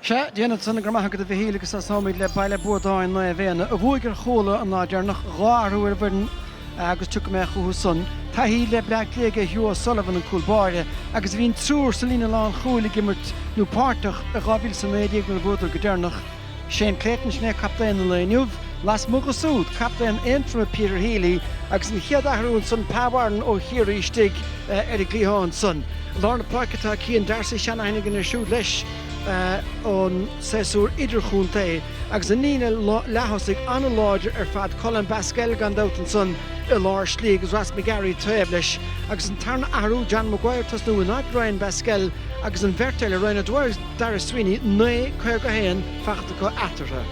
Sea, déanfad san, go raibh maith agat a Mhichíl agus tosaímid le Baile Buadáin Naomh Éanna a bhuaigh ar Chuala an lá deireanach, dhá athrú ar an bhfoireann agus tiocfaidh mé chucu san. Taithí le Bleá Cliath aige Hugh O'Sullivan, an cúl báire, agus bhí an triúr sa líne lánchúil ag imirt nó páirteach i 2019 nuair a bhuadar go deireanach. Shane Clayton, sin é captaen an lae inniu, lasmuigh dhe súd, captaen Aontroma Peter Healy agus an chéad athrú ansan Pa Warren ó Chiarraí istigh. ar an gcliathán san lár na páirce atá Cian Darcy seanaithne againn air siúd leis ón séasúr idirchontae agus an líne leath-thosaigh an-láidir ar fad Colm Basquel gan dabht ansan i lár slí agus Ross McGarry taobh leis agus an tarna athrú John Maguire tosnú in áit Ryan Basquel agus an bheirt eile Ryan O'Dwyer agus Daire Sweeney 9 51 faighte acu eatarthu.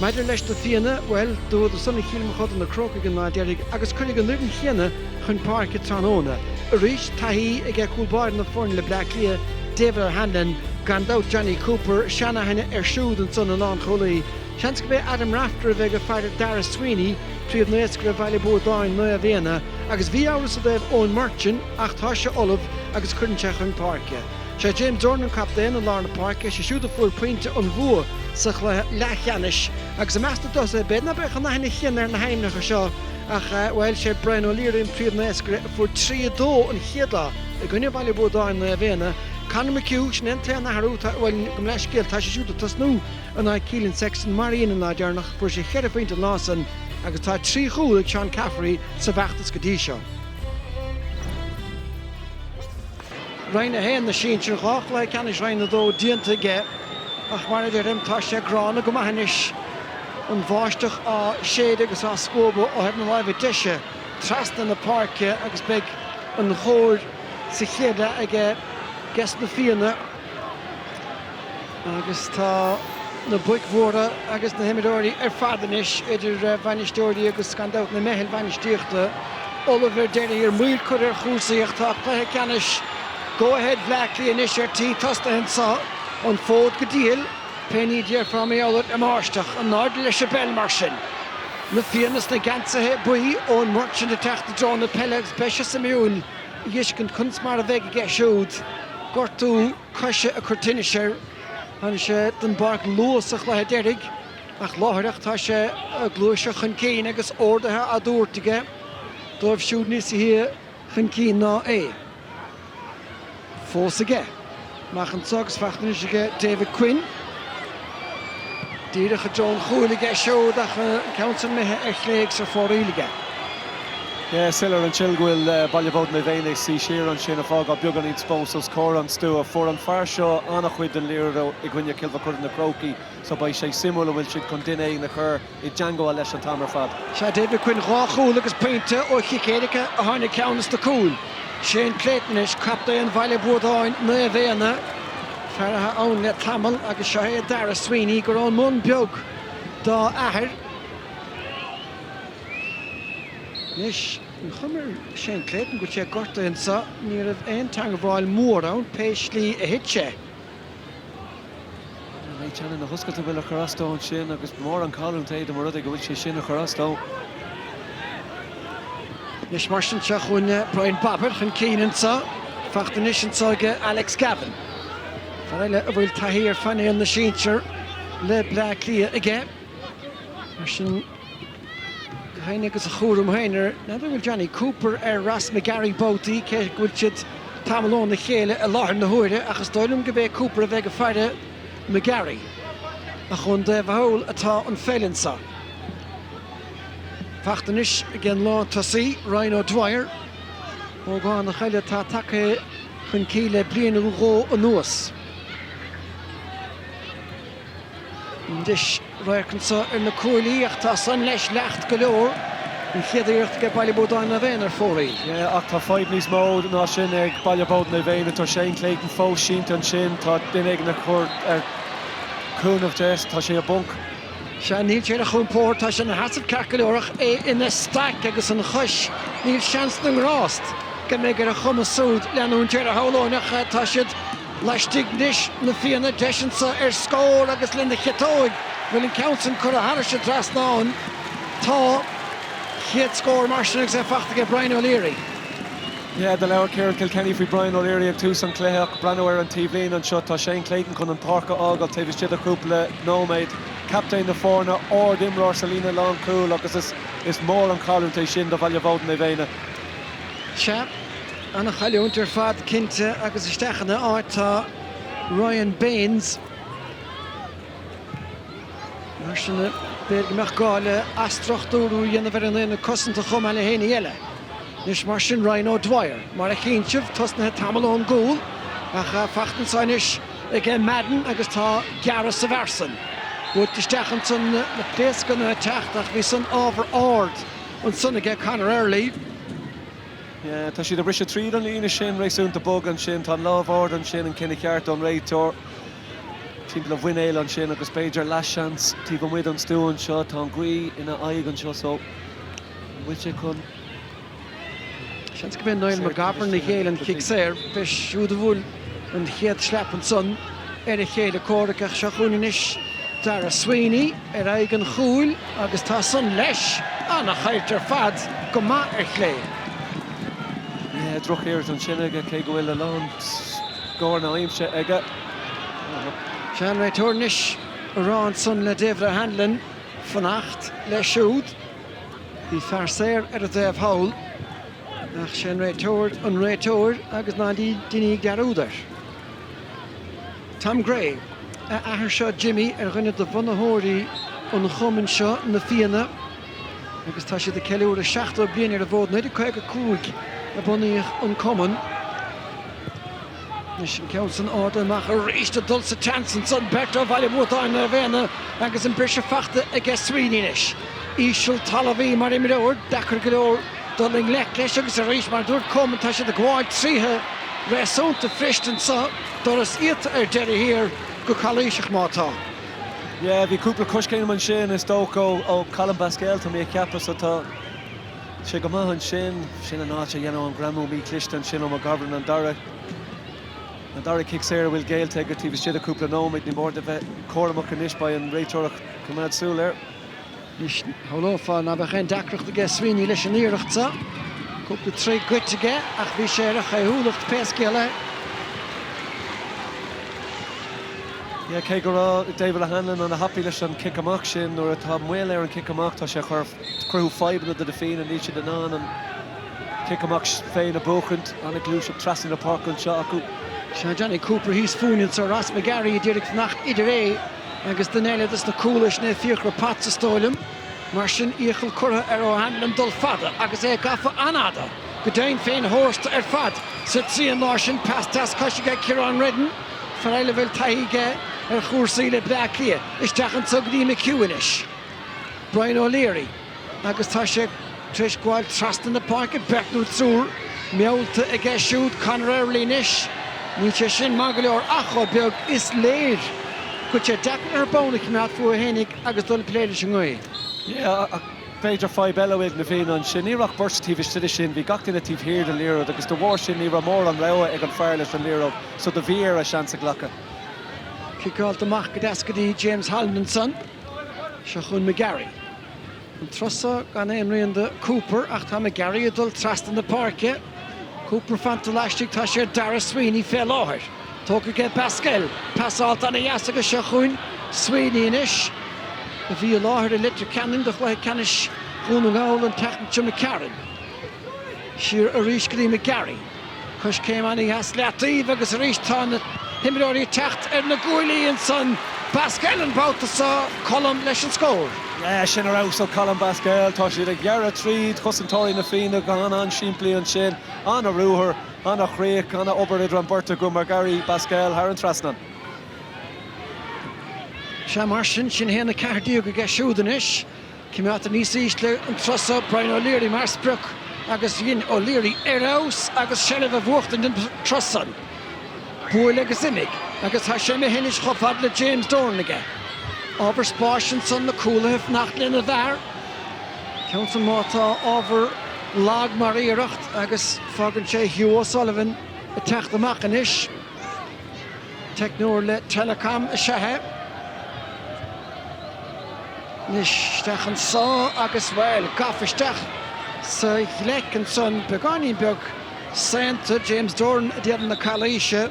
Maidir leis na Fianna, bhuel, bhuadar san ar Chill Mochuda na Crócaigh an lá deiridh agus cuirfidh an fhoireann chéanna chun páirce tráthnóna arís. Taithí aige cúl báire na foirne le Bleá Cliath, David O'Hanlon, gan dabht Jonny Cooper, seanaithne air siúd ansan ina lánchúlaí. Seans gurb é Adam Rafter a bheidh ag faire Daire Sweeney, príomhnaoscaire Bhaile Buadáin Naomh Éanna, agus bhí amhras i dtaobh Eoin Murchan ach tá sé ullamh agus cuireann sé chun páirce. Sé James Dornan captaen i lár na páirce, sé siúd a fuair pointe an bhua sa chluiche leathcheannais agus i measc na dtosaithe b'fhéidir ná beadh an aithne chéanna ar na hainmneacha seo ach, bhuel, sé Brian O'Leary an príomhnaoscaire a fuair 3 2 an chéad lá i gcoinne Bhaile Buadáin Naomh Éanna. Conor McHugh, sin é an t-aon athrú, bhuel, gabh mo leithscéal, tá sé siúd ag tosnú in áit Keelan Sexton mar a dhein an lá deireanach, fuair sé cheithre phointe an lá san agus tá trí chúl ag Seán Caffrey sa bhfeachtas go dtí seo. Roinn 1 na Sinsear, dhá chluiche ceannais Roinn 2 déanta aige ach mar a deirim, tá sé gránna go maith anois, an bháisteach á séideadh agus á scuabadh ó thaobh na láimhe deise trasna na páirce agus beidh an chóir sa chéad leath aiges na Fianna. Agus tá na boic mhóra agus na himreoirí ar fad anois, idir bhainisteoirí agus gan dabht na meitheal bhainistíochta, ullamh ar deireadh thiar. Moill curtha ar chúrsaí ach tá cluiche ceannais Go Ahead Bhleá Cliath anois ar tí tosnaithe anseo. An fód go diail! Pé ní a déarfá mar gheall ar an mbáisteach. In airde leis an bpeil mar sin. Na Fianna sna geansaithe buí, Eoin Murchan ag teacht i dtreo na peile agus beidh sé suimiúil. a fheiscint conas mar a bheidh aige siúd gortú coise ag cur tinnis air. Tháinig sé den bpáirc luath sa chluiche deiridh ach láithreach tá sé ag gluaiseacht chun cinn agus ordaithe á dtabhairt aige dóibh siúd níos sia chun cinn ná é. Fós aige. Amach anseo agus fachta anois aige David Quinn. Díreach i dtreo an chúil aige siúd ach an ceann san imithe ar chlé agus ar fóraoil aige. Is soiléir an tslí go bhfuil Baile Buadáin Naomh Éanna ag suí siar ansin, ag fágáil beagáinín spás os comhair an stua. Fuair an fear seo an-chuid den liathróid i gcoinne Chill Mochuda na Crócaigh so beidh sé suimiúil an bhfuil siad chun duine éigin a chur i dteangabháil leis an t-am ar fad. Seo David Quinn dhá chúl agus pointe ó chic éirice a tháinig ceann des na cúil. Shane Clayton anois captaen Bhaile Buadáin Naomh Éanna, fear atá ann le tamall agus seo é Darragh Sweeney gurb ón mBun Beag dá athair. Anois an chuma ar Shane Clayton go bhfuil sé gortaithe anseo, ní raibh aon teangabháil mhór ann pé slí a thit sé. An mbeidh teannán na hioscaide a bhfuil ag cur as dó ansin agus is mór an chailliúint é dá mba rud é go bhfuil sé sin ag cur as dó. Anois mar sin seo chugainn Brian Bobbett chun cinn anseo. Fachta anois anseo ag Alex Gavin. Fear eile a bhfuil taithí ar phainéal na sinsear le Bleá Cliath aige. Mar sin. Gach éinne agus a chúram féin air, n'fheadar an bhfuil Jonny Cooper ar Ross McGarry babhtaí cé go bhfuil siad tamall óna chéile i láthair na huaire ach is dóigh liom gurb é Cooper a bheidh ag faire McGarry. Ach ar an dtaobh thall atá an pheil anseo. Fachta anois ag an lántosaí, Ryan O'Dwyer, ógánach eile atá tagtha chun cinn le bliain nó dhó anuas. Deis radhairc anseo ar na cuaillí ach tá san leis leacht go leor. An chéad iarracht ag Baile Buadáin Naomh Éanna ar fóraoil. Ach tá fadhb níos mó ná sin ag Baile Bhuadáin Naomh Éanna. Tá Shane Clayton fós sínte ansin. Tá duine éigin ag cur cúnamh de. Tá sé i bponc. Sea, níl sé ar a chompord. Tá sé ina sheasamh ceart go leor ach é ina staic agus an chois. Níl seans na ngrást go mbeidh ar a chumas siúd leanúint air a shamhlóinn ach tá siad. Laistigh anois Na Fianna, deis anso ar scór agus lena chiotóig bhfuil an ceann san curtha thairis an dtrasnán. Tá chéad scór mar sin agus é fachta aige Brian O'Leary. Yeah, do labhair Ciarán Kilkenny faoi Brian O'Leary ag tús an cluiche ach breathnaigh ar an taobhlíne anseo, tá Shane Clayton chun an páirc a fhágáil taobh istigh de chúpla nóiméad. Captaen na foirne, ardimreoir sa líne lán chúl agus is mór an chailliúint é sin do Bhaile Buadáin Naomh Éanna. Sea. Ana chailliúint ar fad cinnte agus isteach ina áit tá Ryan Baines. Mar sin de, b'fhéidir go mbeadh gá le athstruchtúrú a dhéanamh ar an aonad cosanta chomh maith le haon ní eile. Anois mar sin Ryan O'Dwyer mar a chíonn sibh, tosnaithe tamall ón gcúl ach fachta anso anois ag Madden agus tá gearradh sa bhfear san. Buailte isteach anso na pléascanna ag teacht ach bhí san ábhar ard ansan aige Conor Early. Tá siad ag briseadh tríd an líne sin réasúnta bog ansin. Tá an lámh ard ansin, an cinneadh ceart ón réiteoir. Timpeall a mhuinéil ansin agus b'fhéidir leathsheans taobh amuigh den stua anseo. Tá an ghaoth ina aghaidh anseo so an bhfuil sé chun. Seans go mb'é Niall McGovern a ghéill an chic saor. B'é siúd a bhuail. An chéad slap ansan ar a chéile comhraic ach seo chugainn anois Darragh Sweeney ar aghaidh an chúil agus tá san leis! Ana-thábhachtach ar fad, go maith ar chlé. Drochiarracht ansin aige cé go bhfuil a lán cabhair na haimsire aige. 'Sé an réiteoir anois á rá san le David O'Hanlon fanacht leis siúd. Bhí fear saor ar an dtaobh thall. Ach sé an réiteoir an réiteoir agus ná déanaimis dearúd air. Tom Gray, a athair seo Jimmy ar dhuine de bhunaitheoirí an chumainn seo Na Fianna agus tá siad ag ceiliúradh 70 bliain ar an bhfód. 1955 a bunaíodh an cumann. Anois an ceann san fada amach arís, ag dul sa tseans ansan, beirt ó Bhaile Bhuadáin, Naomh Éanna agus an briseadh faighte aige Sweeney leis. Íseal talmhaí mar imreoir, deacair go leor dul i ngleic leis agus arís mar a dúirt Coman tá siad ag gabháil tríothu réasúnta fuirist anso, doras iata ar deireadh thiar go calaoiseach má tá. Yeah, bhí cúpla coiscéim ansin is dócha ó Colm Basquel tá mé ag ceapadh so tá. sé go maith ansin. Sin an áit a ndearnadh an greamú mí-chliste ansin ó McGovern an dara an dara cic saor a bhfuil géillte aige taobh istigh de cúpla nóiméad. Ní mór dó bheith cúramach anois. Beidh an réiteoir ag coimeád súil air. Anois, shamhlófá ná beadh aon deacracht aige Sweeney leis an iarracht seo. Cúpla troigh goidte aige ach bhí sé ar a chaothúlacht pé scéal é. Cé go raibh David O'Hanlon ana thapaidh leis an cic amach sin, nuair atá moill air an cic amach, tá sé ag chur. cruthú fadhbanna do na Fianna, níl siad in ann an cic amach féin a bhuachaint, an-ghluaiseacht trasna na páirce anseo acu. Seo Jonny Cooper thíos fúinn anseo, Ross McGarry ag iarraidh fanacht idir é agus duine eile dos na cúlaithe, sin é Fiachra Potts is dóigh liom. Mar sin iachall curtha ar O'Hanlon dul fada agus é gafa an-fhada go deimhin féin thar ceann tosta ar fad sa trian láir sin, pas deas cois aige ag Kieran Reddin, fear eile a bhfuil taithí aige ar chúrsaí le Bleá Cliath. Isteach anseo go dtí McHugh anois. Brian O'Leary agus tá sé tar éis gabháil trasna na páirce beirt nó triúr meallta aige siúd, Conor Early anois. Níl sé sin maith go leor ach, chomh beag is léir, go bhfuil sé deacair an ball a choimeád fúthu fhéinig agus dul ag plé leis an ngaoth. Yeah, ach b'fhéidir fadhb eile a bhí ag na Fianna ansin. Ní raibh ach beirt taobh istigh de sin, bhí gach duine taobh thiar den liathróid agus de bharr sin ní raibh mórán rogha ag an fear leis an liathróid so do bhí air a seans a ghlacadh. Ciceáilte amach go deas go dtí James Holland ansan. Seo chugainn McGarry. An trusa gan aon rian de Cooper ach tá McGarry ag dul trasna na páirce. Cooper fanta laistigh, tá sé ar Darragh Sweeney fé láthair. Tógtha aige Basquel. Passáil ana dheas agus seo chugainn Sweeney anois, a bhí i láthair i Leitir Ceanainn do chluiche ceannais Dhún na nGall an tseachtain caite. McCarron siar arís go dtí McGarry. Coiscéim ana dheas i leataobh agus arís tá na himreoirí ag teacht ar na guaillí ansan Basquel an babhta seo, Colm leis an scór. Yeah, sin ar fheabhas ó Colm Basquel. Tá siad ag gearradh tríd, cosantóirí Na Fianna, go h-an-an-simplí ansin. An-ruathar, an-chríoch, an-obair idir an beirt acu McGarry Basquel thar an trasnán. Sea mar sin, sin 1-14 aige siúd anois. Coimeádtar níos ísle an trusa, Brian O'Leary mar sprioc agus déanann O'Leary ar fheabhas agus seilbh a bhuachtaint don trus san. Buail agus imigh agus tá sé imithe anois chomh fada le James Dolan aige. Ábhar spáis ansan na cúlaithe fanacht lena bhfear. Ceann san ámh tá ábhar lag mar iarracht agus fágann sé Hugh O'Sullivan ag teacht amach anois. Teicneoir le Telecom is ea é. Anois isteach anso agus, bhuel, gafa isteach sa ghleic ansan, beagáinín beag saonta, James Doran ag déanamh na calaoise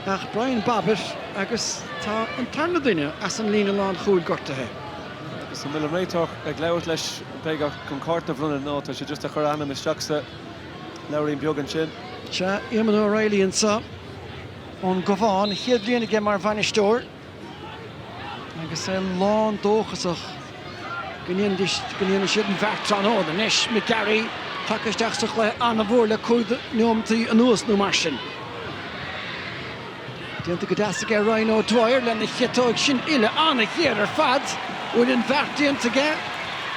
ach Brian Bobbett agus tá an tarna duine as an líne lánchúil gortaithe. Agus an bhfuil an réiteoir ag labhairt leis? B'fhéidir chun cárta a bhronnadh, no, tá sé just ag chur a ainm isteach sa. leabhairín beag ansin. Sea, Éamonn Ó Raghallaigh anseo ón gCabhán. Chéad bhliain aige mar bhainisteoir agus é lán dóchasach go ndéanfaidh siad an bheart tráthnóna. Anois, McGarry tagtha isteach sa chluiche an-mhór le cúig nóimeataí anuas nó mar sin. Déanta go deas aige Ryan O'Dwyer lena chiotóig san uillinn. An-ghéar ar fad. Bhfuil an bheart déanta aige?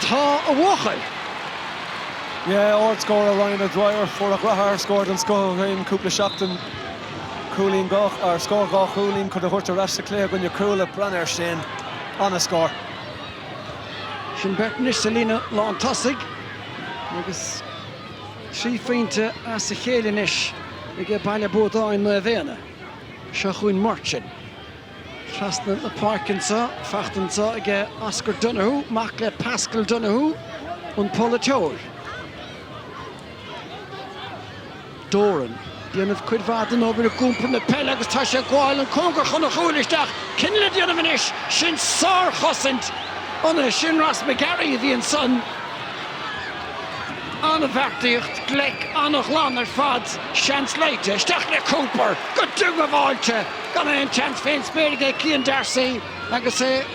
Tá a bhuachaill. Yeah, ardscóráil Ryan O'Dwyer. Fuair a McGrath ardscór den scoth ó shin cúpla seachtain. Cúilín, dhá ardscór, dhá chúilín chun iad a thabhairt ar ais sa cluiche i gcoinne Cuala. Breathnaigh ar sin. An-scór. Sin beirt anois sa líne lán tosaigh agus. Trí phointe as a chéile anois aige Baile Buadáin Naomh Éanna. Seo chugainn Martin. Trasna na páirce anseo, faighte anseo aige Oscar Donoghue, mac le Paschal Donoghue, an polaiteoir. Doran. dhéanamh cuid mhaith den obair ag iompar na peile agus tá sé ag gabháil an cóngar chun a chúil isteach. Cinneadh le déanamh anois. Sin sárchosaint. An é sin Ross McGarry a bhí ansan? An-bheartaíocht, gleic an-ghlan ar fad. Seans eile. Isteach le Cooper. Go diongbháilte. Gan aon tseans fén spéir aige ag Cian D'Arcy agus é.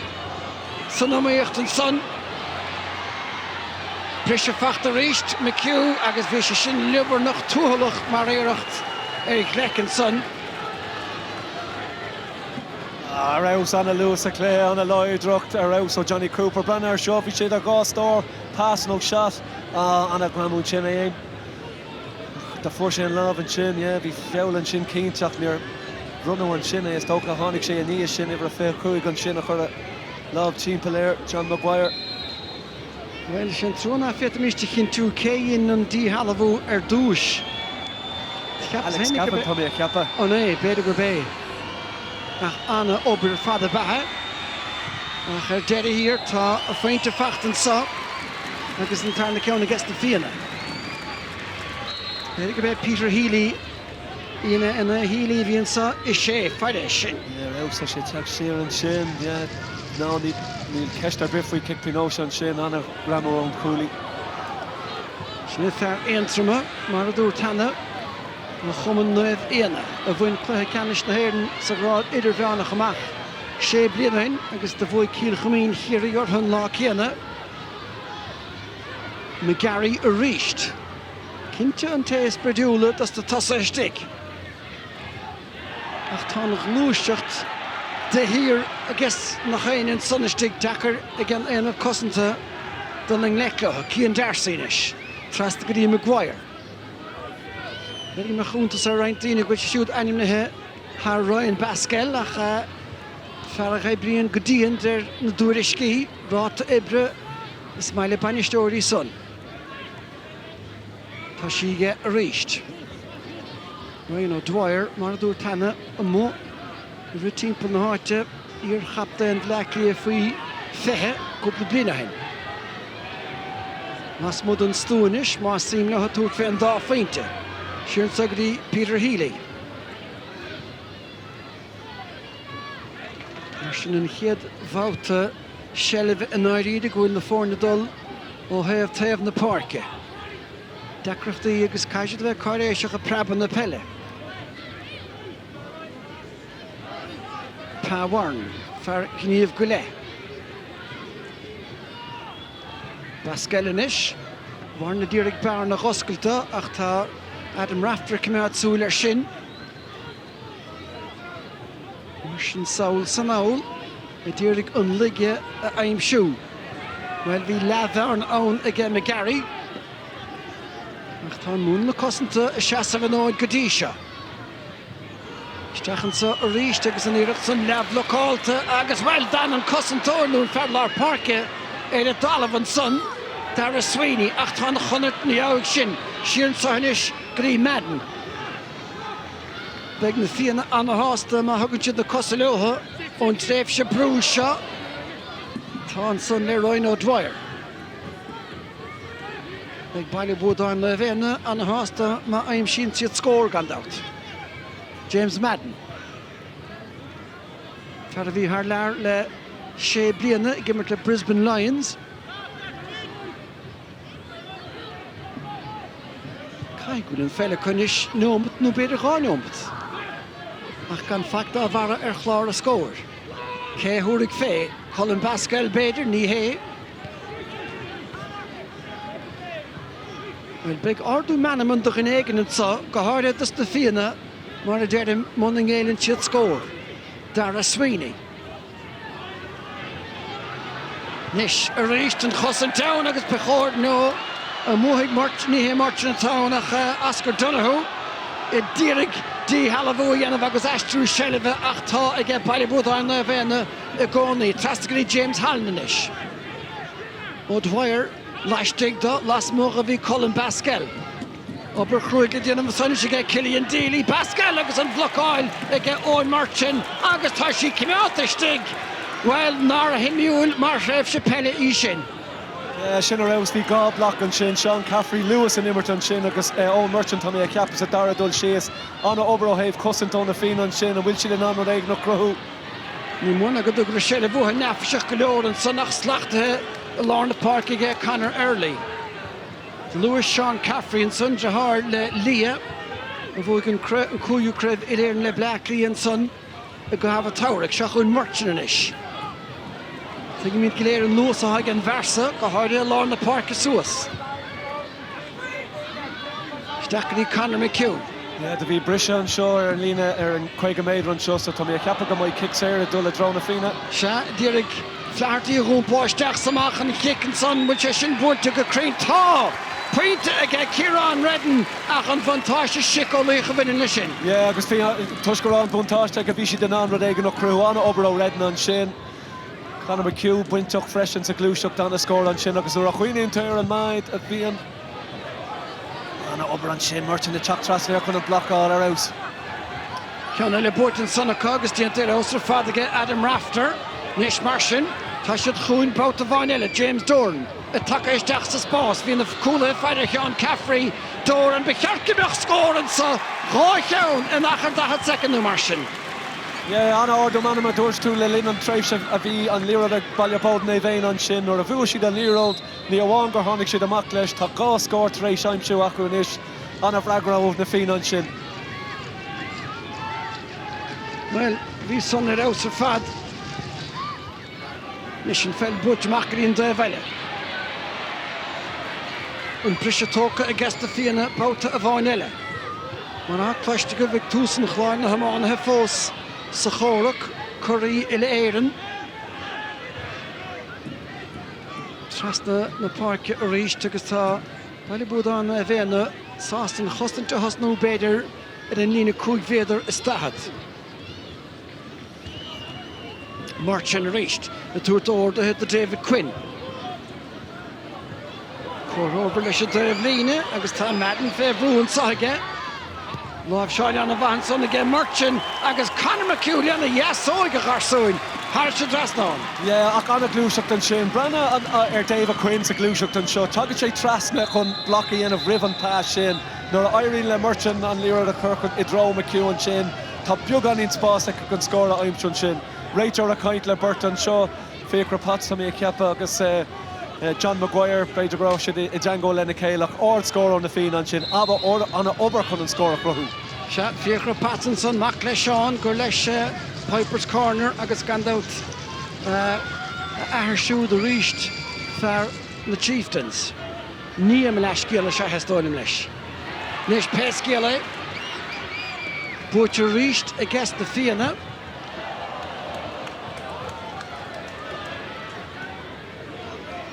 San iomaíocht ansan. Briseadh fachta arís, McHugh, agus bhí sé sin liobarnach tuathalach mar iarracht ar ghleic ansan. Ar fheabhas, ana luas, aclaí, ana láidreacht, ar fheabhas ó Jonny Cooper. Breathnaigh ar seo, bhí sé idir dhá stól, pass nó shot. Ana ghreamú ansin é fhéin. Fuair sé an lámh ansin, yeah, bhí feall ansin cinnte ach níor bronnadh ansin é, is dócha. Tháinig sé i ndiaidh sin, uimhir a 25 ansin a chuir a lámh timpeall air, John Maguire. Bhuel, sin trua nach bhféadfaimís a chinntiú cé a dhein an díshealbhú ar dtúis. Cheapas Alex féinig go Gavin, tá mé a cheapadh. An é? B'fhéidir gurb é. Ach ana-obair fada beatha. Ach ar deireadh thiar tá a phointe fachta anso agus an tarna ceann ages na Fianna. B'fhéidir gurb é Peter Healy, an é, an é Healy a bhí anso. Is é. Fairis sin, is é. Ar fheabhas, tá sé ag teacht siar ansin. Ná níl ceist ar bith faoi. Cic faoin aois ansin. An-ghreamú ón chúlaí. Sin é fear Aontroma, mar a dúirt cheana, ó chumann Naomh Éanna, a bhain cluiche ceannais na hÉireann sa ghrád idirmheánach amach sé bliana ó shin agus do bhuaigh Cill Chuimín Chiarraí orthu an lá céanna. McGarry arís. Cinnte an té is broidiúla dos na tosaithe istigh. Ach tá ana ghluaiseacht de shíor agus nach shéanann san istigh. Deacair ag an aonad cosanta dul i ngleic leo. Cian Darcy anois. Trasna go dtí McGuire. B'fhéidir go mbeadh iontas ar roinnt daoine go bhfuil sé siúd ainmnithe thar Ryan Basquel ach fear a oibríonn go dian d'réir na dtuairiscí. Ráta oibre. Is maith le bainisteoirí san. Tá sí aige arís. Ryan O'Dwyer, mar a dúirt cheana, amuigh ag rith timpeall na háite, iarchaptaen Bhleá Cliath faoi 20 cúpla bliain ó shin. Lasmuigh den stú anois, más suim leo tabhairt fé an dá phointe, siar anso go dtí Peter Healy. Mar sin an chéad bhabhta. seilbh i ndáiríre go bhfuil na foirne dul ó thaobh taobh na páirce. Deacrachtaí agus caithfidh siad a bheith cáiréiseach ag preabadh na peile. Pa Warren, fear Ghníomh go Leith. Basquel anois. Warren a d'iarraidh bearna a dh'oscailt ach tá Adam Rafter ag coimeád súil air sin. Mar sin sall is anall a d'iarraidh an laige a aimsiú. Bhuel, bhí leathbhearna ann aige McGarry ach tá an múnla cosanta ag seasamh an fhóid go dtí seo. Isteach anso arís agus an iarracht san leathbhlocálta agus, bhuel, d'fhan an cosantóir nó an fear lár páirce ar an dtalamh ansan, Daire Sweeney, ach tá an chonairt, ina dhiaidh sin, siar anso anois go dtí Madden. Beidh na Fianna an-sásta má thugann siad na cosa leotha ón tréimhse brú seo. Tá ansan le Ryan O'Dwyer. Beidh Baile Buadáin Naomh Éanna an-sásta má aimsíonn siad scór, gan dabht. James Madden, fear a bhí thar lear le sé bliana ag imirt le Brisbane Lions. Caithfidh go bhfuil an pheil acu anois neomat nó b'fhéidir dhá neomat. Ach gan faic dá bharra ar chlár na scór. Cé a thabharfaidh fé? Colm Basquel b'fhéidir? Ní hé. Bhuel, beidh ardú meanman do dhuine éigin anso, go háirithe dos na Fianna, mar a deirim, muna ngéilleann siad scór. Daire Sweeney. Anois arís an chosaint ann agus ba chóir nó an mbuafaidh Murch, ní hé Murchan atá ann ach Oscar Donohoe a d'iarraidh díshealbhú a dhéanamh agus aistriú seilbhe ach tá aige Baile Buadáin Naomh Éanna i gcónaí. Trasna go dtí James Holland anois. O'Dwyer laistigh do, lasmuigh a bhí Colm Basquel. Obair chrua le déanamh anso anois aige Killian Deeley, Basquel agus an bhlocáil aige Eoin Murchan agus tá sí coimeádta istigh. Bhuel, nár shuimiúil mar thréimhse peile í sin? Yeah, sin a raibh agus bhí dhá bloc ansin, Seán Caffrey, léamh san imirt ansin agus Eoin Murchan tá mé a cheapadh sa dara dul síos. An-obair ó thaobh cosaint ó na Fianna ansin. An bhfuil siad in ann rud éigin a chruthú? Ní mó ná go dtugadar seilbh uathu neafaiseach go leor ansan ach slachtaithe i lár na páirce aige Conor Early. Luais Seán Caffrey ansan, deartháir le Leah, a bhuaigh an cúigiú craobh uile-Éireann le Bleá Cliath ansan i gcaitheamh an tsamhraidh. Seo chugainn Murchan anois. Tuigimid go léir an luas atá ag an bhfear so, go háirithe i lár na páirce suas. Isteach go dtí Conor McHugh. Yeah, do bhí briseadh anseo ar an líne ar an 50 méadar anseo so tá mé a cheapadh go mbeidh cic saor ag dul i dtreo na Fianna. Sea, d'iarraidh. Flaherty a dh'iompáil isteach 's amach an chic ansan bhfuil sé sin buailte go cruinn? Tá! Pointe aige Ciarán Reddin ach an bhuntáiste siceolaíoch a bhaineann le sin. Yeah agus bhí, toisc go raibh an bhuntáiste acu bhí siad in ann rud éigin a chruthú. An-obair ó Reddin ansin. Conor McHugh bainteach freisin sa ghluaiseacht, an-scór ansin agus nuair a chuimhníonn tú ar an méid a bhíonn. Ana obair ansin. Murchan ag teacht trasna air chun an blocáil ar fheabhas. Ceann eile buaite ansan acu agus déanta ar fheabhas ar fad aige Adam Rafter. Anois mar sin, tá siad chugainn babhta amháin eile. James Doran ag tacú isteach sa spás. Bhí na cúlaithe ag faire ar Sheán Caffrey. Doran, ba cheart go mbeadh scór anseo! Dhá cheann in achar 40 soicind nó mar sin. Yeah, ana ardú meanma a dúirt tú le linn an tréimhse a bhí an liathróid ag Baile Buadáin Naomh Éanna ansin nuair a bhuaigh siad an liathróid. Ní amháin gur tháinig siad amach leis, tá dhá scór tar éis aimsiú acu anois. An-fhreagra ó na Fianna ansin. Bhuel, bhí san ar fheabhas ar fad. Anois an pheil buaite amach go dtí an taobh eile. An briseadh tógtha aiges na Fianna babhta amháin eile. Mar atá cloiste agaibh ag tús an chláir na hiománaithe fós sa chomhrac, curaí Uile-Éireann. trasna na páirce arís agus tá Baile Buadáin Naomh Éanna sásta an chosaint a thosnú b'fhéidir ar an líne cúig mhéadar is daichead. Murchan arís ag tabhairt orduithe do David Quinn. Comhthreomhar leis an dtaobhlíne agus tá Madden fé bhrú anseo aige. Láimhseáil an-mhaith ansan aige Murchan agus Conor McHugh lena dheasóig, a gharsúin, thairis an trasnán. Yeah, ach an-ghluaiseacht ansin. Breathnaigh ar David Quinn sa ghluaiseacht anseo. Tagann sé trasna chun block a dhéanamh roimh an pass sin. Nuair a éiríonn le Murchan an liathróid a chur i dtreo McHugh ansin, tá beagáinín spáis acu chun scór a aimsiú ansin. Réiteoir ag caint le beirt anseo. Fiachra Potts, tá mé ag ceapadh, agus John Maguire, b'fhéidir go raibh siad i dteangmháil lena chéile ach ard scór ó na Fianna ansin. Abair, ana obair chun an scór a chruthú. Sea, Fiachra Potts ansan, mac le Seán, gur leis Pipers Corner agus gan dabht a athair siúd arís fear na Chieftains. Nia mo leathscéal is ea é is dóigh liom leis. Anois pé scéal é, buaitear arís aiges na Fianna.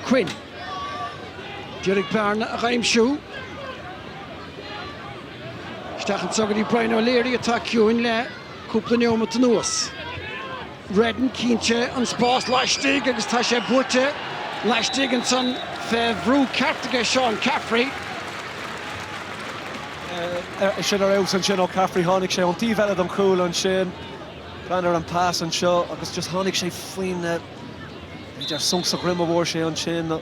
Quinn. D'iarraidh bearna a dh'aimsiú isteach anseo go dtí Brian O'Leary atá ciúin le cúpla neomat anuas. Reddin cíonn sé an spás laistigh agus tá sé buaite laistigh ansan fé bhrú ceart aige Seán Caffrey. Sin ar fheabhas ansin ó Caffrey. Tháinig sé ón taobh eile den chúl ansin. Breathnaigh ar an pass anseo agus just tháinig sé faoin, b'fhéidir sonc sa dhroim a bhfuair sé ansin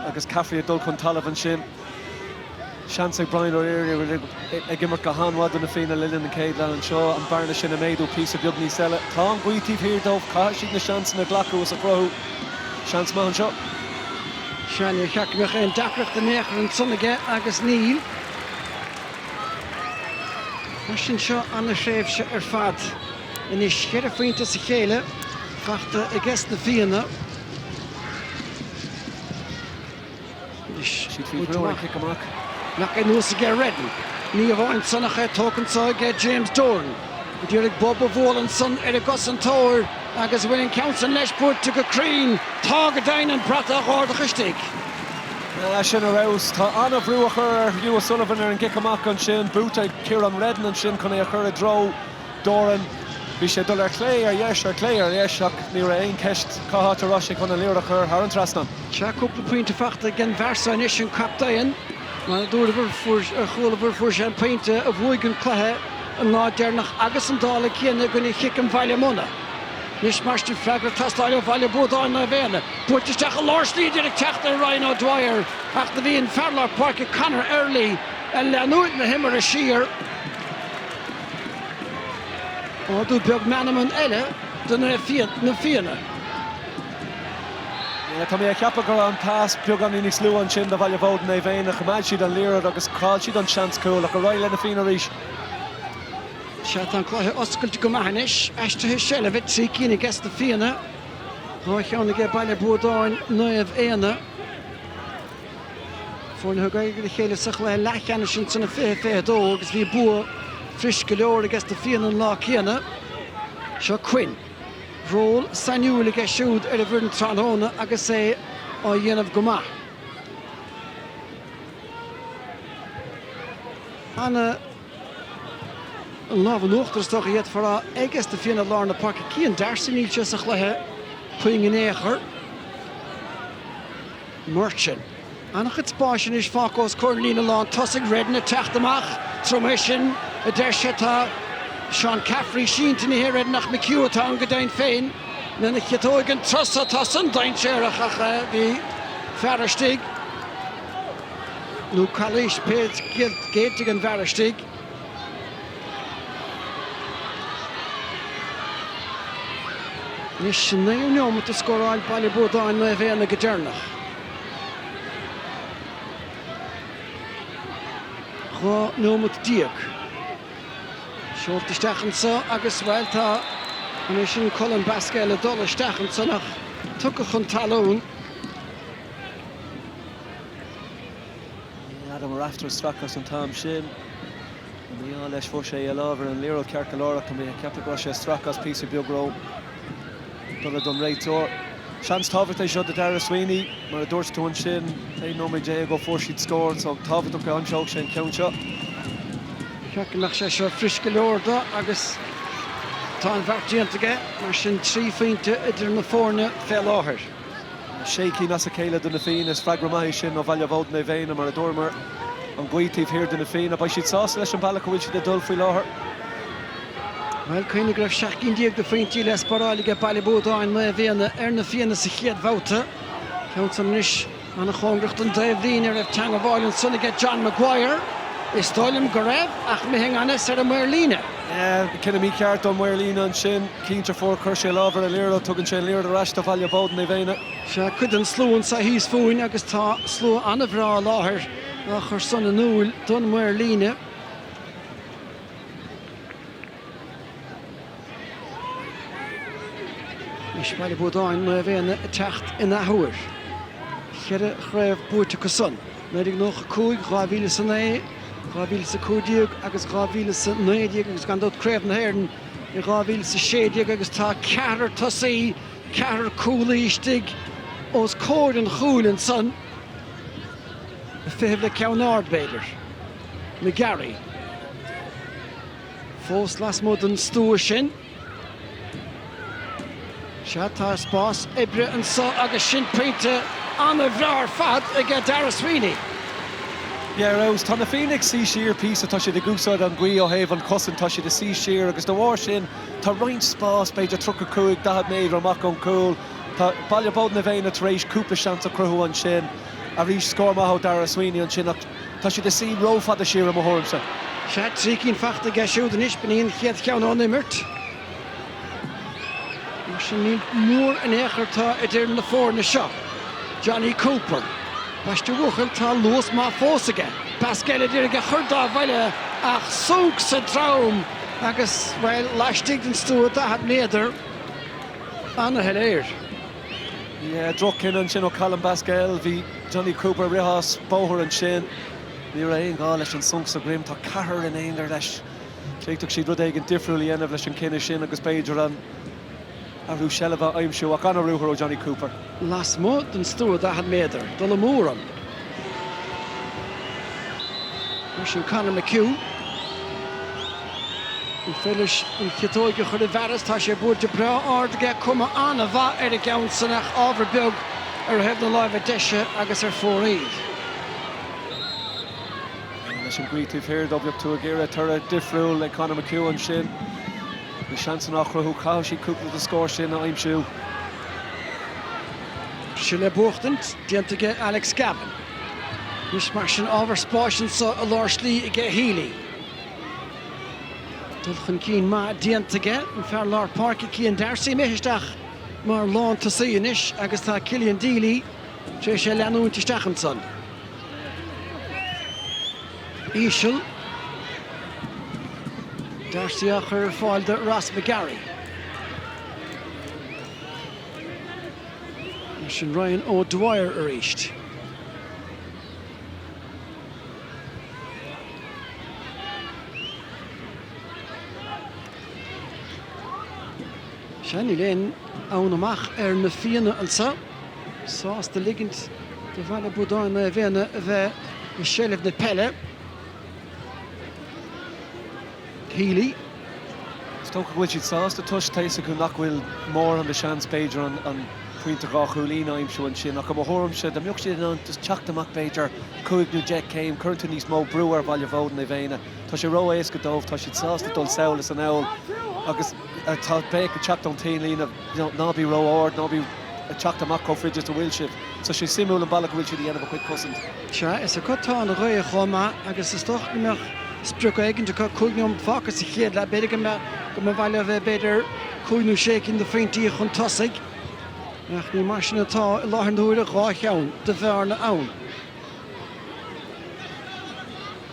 agus Caffrey ag dul chun talaimh ansin. Seans ag Brian O'Leary a bhfuil ag imirt go han-mhaith do Na Fianna le linn an chéad leath anseo an bearna sin a méadú píosa beag níos eile. Tá an ghaoth taobh thiar dóibh, caithfidh siad na seansanna a ghlacadh is a chruthú. Seans maith anseo. Sea, ní cheart go mbeadh aon deacracht in aon chor ansan aige agus níl. Mar sin seo an-thréimhse ar fad. Anois cheithre phointe as a chéile faighte ages na Fianna. Anois baint amach. Cic amach. Ach é anuas aige Reddin. Ní hamháin san ach é tógtha anseo aige James Doran. D'iarraidh bob a bhualadh ansan ar an gcosantóir agus an bhfuil an ceann san leis, buailte go cruinn. Tá go deimhin an brat á dh'ardach istigh. Sin ar fheabhas. Tá an-bhrú á chur ar Hugh O'Sullivan ar an gcic amach ansin. Buaite ag Ciarán Reddin ansin chun é a chur i dtreo Doran. Bhí sé ag dul ar chlé, ar dheis, ar chlé, ar dheis ach ní raibh aon cheist cá háit a raibh sé chun an liathróid a chur thar an trasnán. Tá cúpla pointe faighte ag an fhear seo anois, an captaen. Mar a dúrabhair, mar a chualabhair, fuair sé an pointe a bhuaigh an cluiche an lá deireanach agus an dála céanna i gcoinne Chiceam Bhaile Munna. Anois ambaiste freagra ag teastáil ó Bhaile Buadáin Naomh Éanna. Buailte isteach i lár slí d'iarraidh teacht ar Ryan O'Dwyer ach do bhí an fear lár páirce Conor Early ag leanúint na himeartha siar. Ardú beag meanman eile do na Fianna. Tá mé ag ceapadh go raibh an tasc beagáinín níos lú ansin do Bhaile Buadáin Naomh Éanna. Ach choimeád siad an liathróid agus chaill siad an seans cúl. Ach ar aghaidh le na Fianna arís. Sea, tá an cluiche oscailte go maith anois. Aistrithe seilbhe, trí cinn aige sna Fianna, dhá cheann aige Baile Buadáin Naomh Éanna. Foirne a thug aghaidh ar a chéile sa chluiche leathcheannais in san 2022 agus bhí bua fuirist go leor aige sna Fianna an lá céanna. Seo Quinn. ról sainiúil aige siúd ar an bhfoireann tráthnóna agus é á dhéanamh go maith. An, an lámh in uachtar is dócha, d'fhéadfá a rá aige sna Fianna i lár na páirce. Cian D'Arcy níl sé sa chluiche puinn in aon chor. Murchan. An-chuid spáis anois fágtha os comhair an líne lán tosaigh, Reddin ag teacht amach tabhair dom é sin, a deir sé. Tá Seán Caffrey sínte, ní hé Reddin ach McHugh atá ann go deimhin féin, lena chiotóig an turas so atá san dainséarach ach bhí fear istigh, nó calaois b'fhéidir géillte ag an bhfear istigh. Anois an naoú neomat a scóráil Baile Buadáin Naomh Éanna go deireanach. Dhá neomat déag seolta isteach anso agus bhuel tá an té sin Colm Basquel ag dul isteach ansan ach tugtha chun talún. Adam Rafter ag stracadh as an t-am sin. An mí-ádh leis fuair sé lámh ar an liathróid ceart go leor ach go minic. Ceaptar go raibh sé ag stracadh as píosa beag ró dole don réiteoir. Seans tábhachtach é seo do Daire Sweeney. Mar a dúirt tú ansin, aon nóiméad déag ó fuair siad scór so tábhachtach go n-aimseodh sé an ceann seo. Ba cheart go mbeadh sé seo furasta go leor dó agus tá an bheart déanta aige mar sin trí phointe idir na foirne fé láthair. Sé cinn as a chéile do Na Fianna. Is freagra maith é sin ó Bhaile Buadáin Naomh Éanna, mar a dúramar, an ghaoth taobh thiar de Na Fianna, beidh siad sásta leis an bhealach a bhfuil siad ag dul faoi láthair. Bhuel, cuimhnigh go raibh seacht gcinn déag de phointí le spáráil aige Baile Buadáin, Naomh Éanna ar Na Fianna sa chéad bhabhta. Ceann san anois. An-chóngarach don dtaobhlíne an raibh teangmháil ansan aige John Maguire. Is dóigh liom go raibh, ach imithe i ngan fhios ar an maor líne. Cinneadh mícheart ón maor líne ansin. Cinnte fuair chuir sé lámh ar an liathróid. Tugann sé an liathróid ar ais do Bhaile Buadáin Naomh Éanna. Sea, cuid den slua anso thíos fúinn agus tá slua an-bhreá i láthair á chur san in iúil don maor líne. Anois Baile Buadáin, Naomh Éanna ag teacht in athuair. Ceithre chraobh buaite acu san, 1995, 2000 is a naoi, 2000 is a cúig déag agus 2000 is a naoi déag agus gan dabht Craobh na hÉireann i 2000 is a sé déag agus tá ceathrar tosaí, ceathrar cúlaí istigh os comhair an chúil ansan, ag feitheamh le ceann ard b'fhéidir. McGarry. Fós lasmuigh den stua sin. Sea, tá spás oibre anso agus sin pointe an-bhreá ar fad aige Daire Sweeney. Yeah, ar fheabhas, tá Na Fianna ag suí siar píosa, tá siad ag úsáid an ghaoth ó thaobh an chosaint, tá siad ag suí siar agus de bharr sin tá roinnt spás, b'fhéidir 35, 40 méadar amach ón gcúl. Tá Baile Buadáin Naomh Éanna tar éis cúpla seans a chruthú ansin. Arís, scór maith ó Daire Sweeney ansin ach. Tá siad ag suí ró-fhada siar i mo thuairimse. Sea, trí cinn fachta aige siúd anois, b'in í an chéad cheann ón imirt. Mar sin, ní mór in aon chor atá idir na foirne seo. Jonny Cooper. Baist a bhuachaill, tá luas maith fós aige. Basquel a d'iarraidh é a chur dá bhuille ach sonc sa drom agus, bhuel, laistigh den stua daichead méadar. Ana-shoiléir. Yeah, droch-chinneadh ansin ó Colm Basquel. Bhí. Jonny Cooper, Rith sé as bóthar ansin. Ní raibh aon ghá leis an sonc sa droim. Tá ceathrar in aon ghar leis. D'fhéadfadh siad rud éigin difriúil a dhéanamh leis an cinneadh sin agus b'fhéidir an t-athrú seilbhe a aimsiú ach an-ruathar ó Jonny Cooper. Lasmuigh den stua 40 méadar, dul abú orm. Mar sin Conor McHugh. Ag féachaint leis an gciotóg a chur i bhfearas, tá sé buailte breá ard aige, cuma an-mhaith ar an gceann san ach ábhar beag ar thaobh na láimhe deise agus ar fóraoil. Dar leis an ngaoth taobh thiar dó, bheadh tú ag iarraidh toradh difriúil le Conor McHugh ansin. Na seansanna á chruthú, caithfidh siad cúpla de na scóir sin a aimsiú. Seilbh buachtaint déanta aige Alex Gavan. Anois mar sin, ábhar spáis anseo i lár slí aige Healy. Dul chun cinn maith déanta aige an fear lár páirce Cian D'Arcy imithe isteach mar lántosaí anois agus tá Killian Deely tar éis é leanúint isteach ansan. Íseal. D'Arcy á cur ar fáil do Ross McGarry. Sin Ryan O'Dwyer arís. Siad ag glaoch ann amach ar Na Fianna anseo, sásta ligint do Bhaile Buadáin Naomh Éanna a bheith i seilbh na peile. Healy. Is dócha go bhfuil siad sásta toisc, tá a fhios acu nach bhfuil mórán de sheans, b'fhéidir an pointe dhá chúilín a aimsiú ansin ach i mo thuairimse, dá mbeadh siad in ann just teacht amach b'fhéidir cúig nó deich céim, cuireann tú níos mó brú ar Bhaile Buadáin Naomh Éanna. Tá sé ró-éasca dóibh, tá siad sásta dul sall is anall agus tá béic ag teacht ón taobh líne you know ná bí ró-ard, ná bí ag teacht amach chomh fada is a bhfuil sibh. So tá sé suimiúil an bealach a bhfuil siad a dhéanamh a chuid cosaint. Sea, is acu atá an ghaoth chomh maith agus is dócha go mbeadh sprioc éigin acu. Cúig nóiméad fágtha sa chéad leath, b'fhéidir go mba mhaith leo bheith b'fhéidir cúig nó sé cinn de phointí chun tosaigh ach ní mar sin atá i láthair na huaire, dhá cheann de bhearna ann.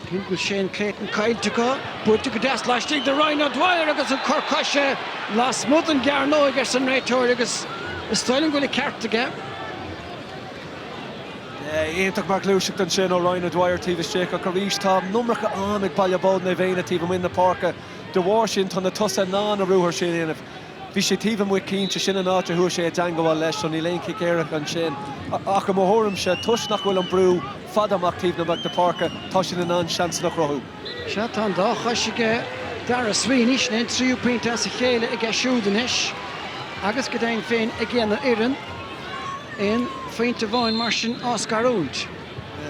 Cé go bhfuil Shane Clayton caillte acu, buailte go deas laistigh de Ryan O'Dwyer agus an cor coise lasmuigh den gcearnóg, arsa an réiteoir agus is dóigh liom go bhfuil an ceart aige. Iontach mar ghluaiseacht ansin ó Ryan O'Dwyer taobh istigh ach arís tá an iomarca am ag Baile Buadáin Naomh Éanna taobh amuigh na páirce. De bharr sin tá na tosaithe in ann an ruathar sin a dhéanamh. Bhí sé taobh amuigh cinnte, sin an áit a chuaigh sé i dteangabháil leis so níl aon chic éirice ansin. Ach i mo thuairimse, toisc nach bhfuil an brú fada amach taobh na mbeach na páirce, tá siad in ann seansanna a chruthú. Sea, tá an dá chois aige, Darragh Sweeney sin é an tríú pointe as a chéile aige siúd anois agus go deimhin féin aigena fhoireann aon phointe amháin mar sin á scarúint.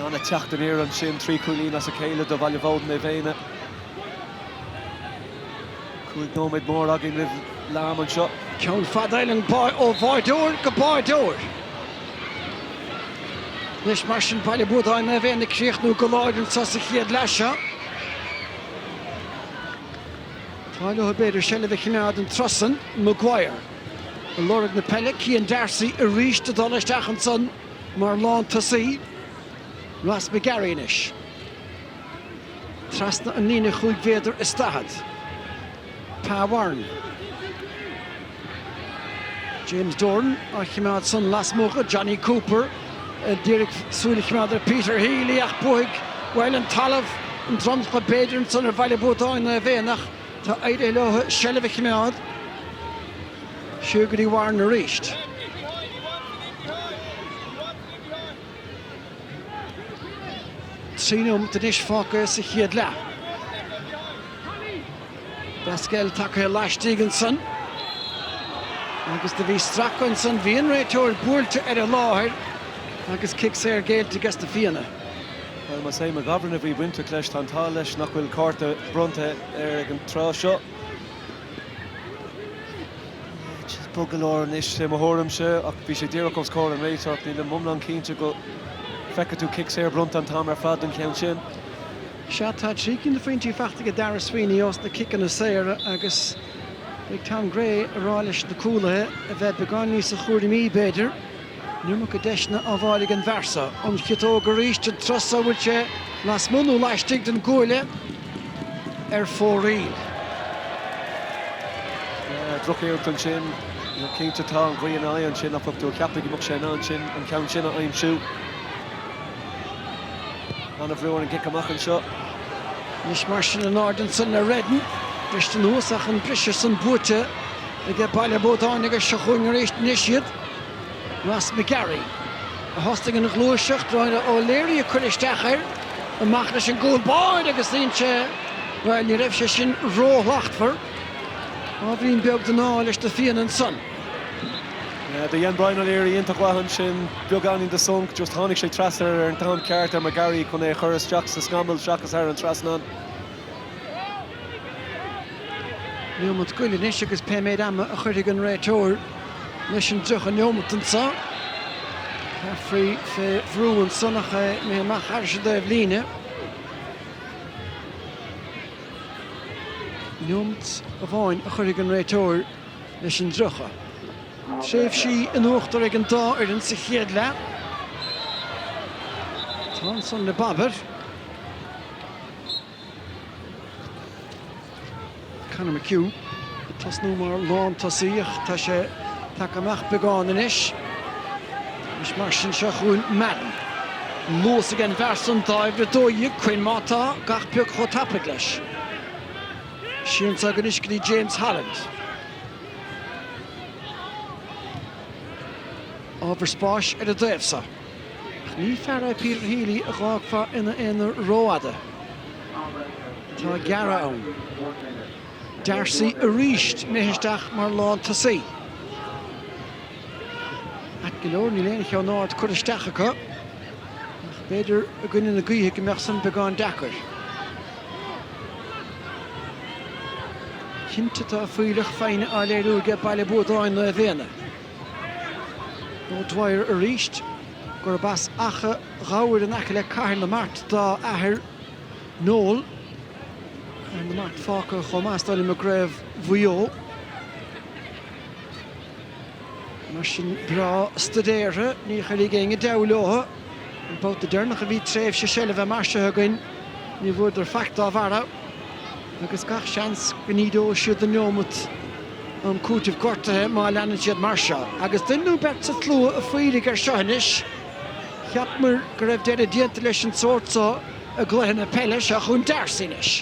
Ana-theacht aniar ansin trí cúilín as a chéile do Bhaile Buadáin Naomh Éanna. Cúig nóiméad mór againn roimh leath-am anseo. Ceann fada ar an bpáirc ó bháireoir go báireoir. Anois mar sin Baile Buadáin Naomh Éanna ag críochnú go láidir anseo sa chéad leath seo. Tá leo b'fhéidir seilbh a chimeád an turas san, Maguire ag lorg na peile, Cian Darcy arís ag dul isteach ansan mar lán tosaí, Ross McGarry anois. Trasna an líne chúig mhéadar is daichead. Pa Warren. James Doran á chimeád san lasmuigh go Jonny Cooper a d'iarraidh súil a chimeád ar Peter Healy ach bhuaigh, bhuel, an talamh an dromchla b'fhéidir ansan ar Bhaile Buadáin Naomh Éanna ach tá éirithe leo seilbh a chimeád siar go dtí Warren arís. Trí nóiméad anois fágtha sa chéad leath. Basquel tagtha laistigh ansan agus do bhí stracadh ansan. Bhí an réiteoir buailte ar an láthair agus cic saor géillte ages na Fianna. Bhuel, más é McGovern a bhí bainteach leis, tá an t-ádh leis nach bhfuil cárta bronnta air ag an tráth seo. Bog go leor anois sé mo thuairimse ach bhí sé díreach os comhair an réiteoir. Nílim iomlán cinnte go bhfeicfidh tú cic saor bronnta an t-am ar fad don cheann sin. Sea, tá trí cinn de phointí faighte ag Darragh Sweeney ós na ciceanna saor agus beidh Tom Gray ag rá leis na cúlaithe a bheith beagán níosa chúramaí, b'fhéidir. An iomarca deiseanna á bhfáil ag an bhfear so. An chiotóg arís, an turas so, an bhfuil sé lasmuigh nó laistigh den gcuaille ar fóraoil? Drochiarracht ansin, cinnte. Tá an ghaoth ina aghaidh ansin ach bheadh tú ag ceapadh go mbeadh sé in ann sin, an ceann sin a aimsiú. An-bhrú ar an gcic amach anseo. Anois mar sin in airde ansin le Reddan. Bristear anuas ach an briseadh san buaite aige Baile Buadáin agus seo chugainn arís anois iad. Ross McGarry a thosaigh an ghluaiseacht, Brian O'Leary a chuir isteach air. Amach leis an gcúl báire agus dhein sé, bhuel, ní raibh sé sin róshlachtmhar, ábhairín beag den ádh leis na Fianna ansan. Yeah, do dhein Brian O'Leary iontach mhaith ansin, beagáinín de sonc, just tháinig sé trasna air ar an t-am ceart, ar McGarry chun é a chur isteach sa scamall seachas thar an trasnán. Neomat go leith anois agus pé méid ama a chuirfidh an réiteoir leis an 30 neomat anseo, Caffrey fé bhrú ansan ach é imithe amach arís i dtaobh líne. Neomat amháin a chuirfidh an réiteoir leis an 30. Tréimhsí in uachtar ag an dá fhoireann sa chéad leath. Tá ansan le Baber. Conor McHugh ag tosnú mar lántosaí ach tá sé tagtha amach beagán anois agus mar sin seo chun Madden. An luas ag an bhfear san d'uimhir a dó dhéag, Quinn, má tá gach pioc chomh tapaidh leis. Sínte aige anois go dtí James Holland. Ábhar spáis ar a dtaobh so. Ní fear é Peter Healy a fhágfá ina aonar rófhada. Tá gearradh ann. D'Arcy arís imithe isteach mar lántosaí. Ait go leor, níl aon cheann ard curtha isteach acu ach b'fhéidir i gcoinne na gaoithe go mbeadh san beagán deacair. Cinnte tá fuílleach foighne á léiriú aige Baile Buadáin Naomh Éanna. O'Dwyer arís, gurb as Achadh Ghobhair in aice le Cathair na Mart dá athair Noel, Cathair na Mart fágtha chomh maith is dóigh liom i gCraobh Mhaigh Eo. Mar sin breá staidéartha, ní chuireann éinne deabhadh leo. An babhta deireanach a bhí tréimhse seilbhe mar seo againn, ní bhfuaireadar faic dá bharr agus gach seans go n-ídeoidh siad an neomat um chúiteamh gortuithe má leanann siad mar seo. Agus duine nó beirt sa tslua ag faíreach ar seo anois, cheapamar go raibh deireadh déanta leis an tsórt seo i gcluiche na peile seo chun D'Arcy anois.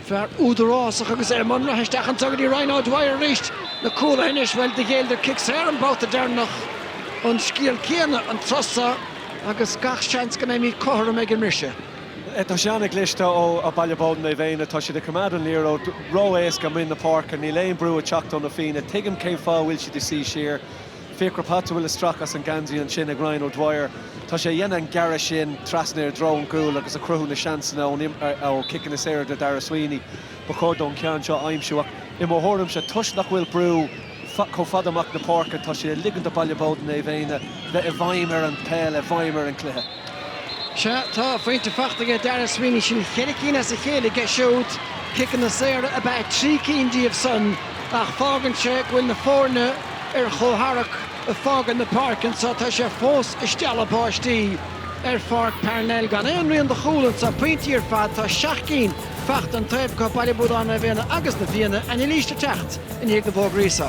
Fear údarásach agus é i mbun ratha isteach anseo go dtí Ryan O'Dwyer arís. Na cúlaithe anois, bhuel, do ghéilleadar cic saor an babhta deireanach. An scéal céanna an tráth seo agus gach seans go mbeimid cothrom ag an mbriseadh. Tá sé seo an-chliste ó Bhaile Bódain Naomh Éanna. Tá siad ag coimeád an liathróid ró-éasca i mbun na páirce. Níl aon brú ag teacht ó na Fianna. Tuigim cén fáth a bhfuil siad ag suí siar. Fiachra Potts a bhfuil ag stracadh as an geansaí ansin ag Ryan O'Dwyer. Tá sé ag déanamh an gearradh sin trasna i dtreo an gcúil agus ag cruthú na seansanna ó chiceanna saora do Dharragh Sweeney. Ba chóir dó an ceann seo a aimsiú ach i mo thuairimse toisc nach bhfuil brú chomh fada amach na páirce tá sé ag ligint do Baile Bódain Naomh Éanna bheith i bhfeidhm ar an bpeil, i bhfeidhm ar an cluiche. Sea, tá a phointe fachta aige Dara Sweeney, sin ceithre cinn as a chéile aige siúd, ciceanna saora ab ea trí cinn díobh san ach fágann sé go bhfuil na foirne ar chomhtharrac ag fágaint na páirce anso, tá sé fós ag stealladh báistí ar Pháirc Parnell gan aon rian de chúl anso, pointí ar fad, tá seacht gcinn fachta an taobh acu, Baile Buadáin, Naomh Éanna agus Na Fianna, anailís le teacht i ndiaidh na bhfógraí so.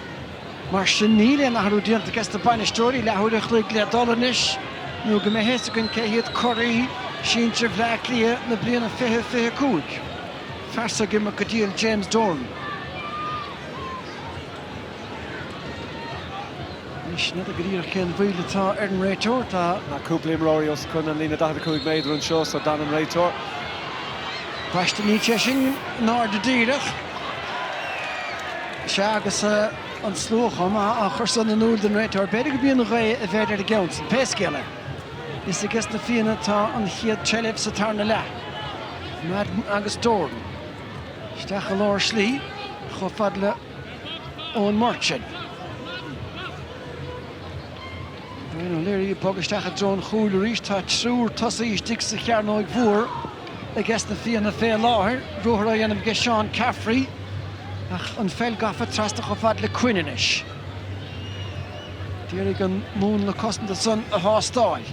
Mar sin níl aon athrú déanta aige sna bainisteoirí leathuair an chloig le dul anois nó go mbeidh a fhios againn cé hiad curaidh sinsir Bhleá Cliath na bliana 2025. Fearsa ag imirt go diail James Doran. Anois n'fheadar go díreach cén mhoill atá ar an réiteoir. Tá cúpla imreoirí os cionn an líne 45 méadar anseo so d'fhan an réiteoir. B'ait níl sé sin in airde díreach. Sea, agus an slua ag cur san in iúl don réiteoir, b'fhéidir go mbíonn an ghaoth i bhfeidhm ar an gceann san. Pé scéal é, is aige sna Fianna atá an chéad tseilbh sa tarna leath. Madden agus Doran isteach i lár slí chomh fada le Eoin Murchan. Brian O'Leary ag bogadh isteach i dtreo an chúil arís. Tá triúr tosaithe istigh sa chearnóig mhór aige sna Fianna fé láthair. Ruathar á dhéanamh aige Seán Caffrey ach an pheil gafa trasna chomh fada le Quinn anois. Ag iarraidh an múnla cosanta san a thástáil.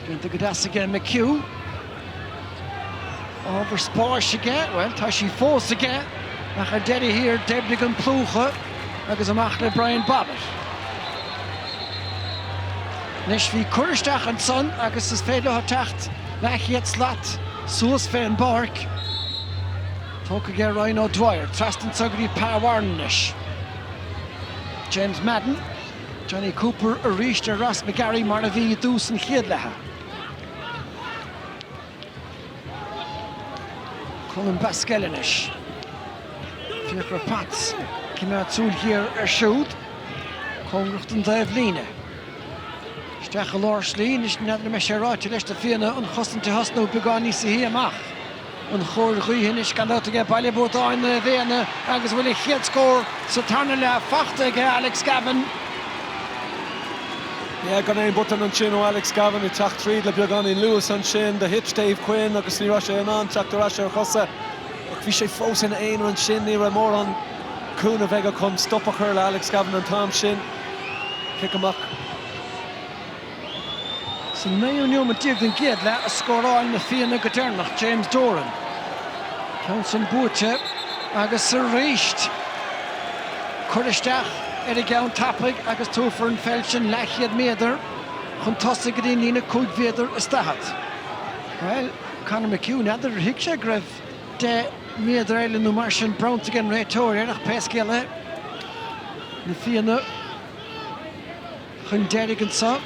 Déanta go deas aige McHugh. Ábhar spáis aige? Bhuel, tá sí fós aige ach ar deireadh thiar d'oibrigh an plúchadh agus amach le Brian Bobbitt. Anois bhí cur isteach ansan agus is féidir leo teacht leathchéad slat suas fén bpáirc. Tógtha aige Ryan O'Dwyer. Trasna anso go dtí Pa Warren anois. James Madden, Jonny Cooper arís ar Ross McGarry mar a bhí i dtús an chéad leatha. Colm Basquel anois. Fiachra Potts ag coimeád súil ghéar air siúd. Cóngarach don dtaobhlíne. Isteach i lár slí anois, n'fheadar an mbeidh sé ráite leis na Fianna an chosaint a thosnú beagán níosa shia amach. An chóir ghaoithe anois gan dabht aige Baile Buadáin Naomh Éanna agus an bhfuil an chéad scór sa tarna leath fachta aige Alex Gavin. Yeah gan aon botún ansin ó Alex Gavin ag teacht tríd le beagáinín luas ansin do thit Dave Quinn agus ní raibh sé in ann teacht ar ais ar a chosa ach bhí sé fós ina aonar ansin ní raibh mórán cúnaimh aige chun stop a chur le Alex Gavin an t-am sin. Cic amach. Sa naoú neomat déag den gcéad leath a scóráil na Fianna go deireanach, James Doran. Ceann san buaite agus arís cur isteach ar an gceann tapaidh agus tabharfar an pheil sin leathchéad méadar chun tosaigh go dtí an líne cúig mhéadar is daichead. Bhuel, Conor McHugh, n'fheadar ar thuig sé go raibh deich méadar eile nó mar sin bronnta ag an réiteoir air ach pé scéal é, na Fianna. chun deiridh anseo.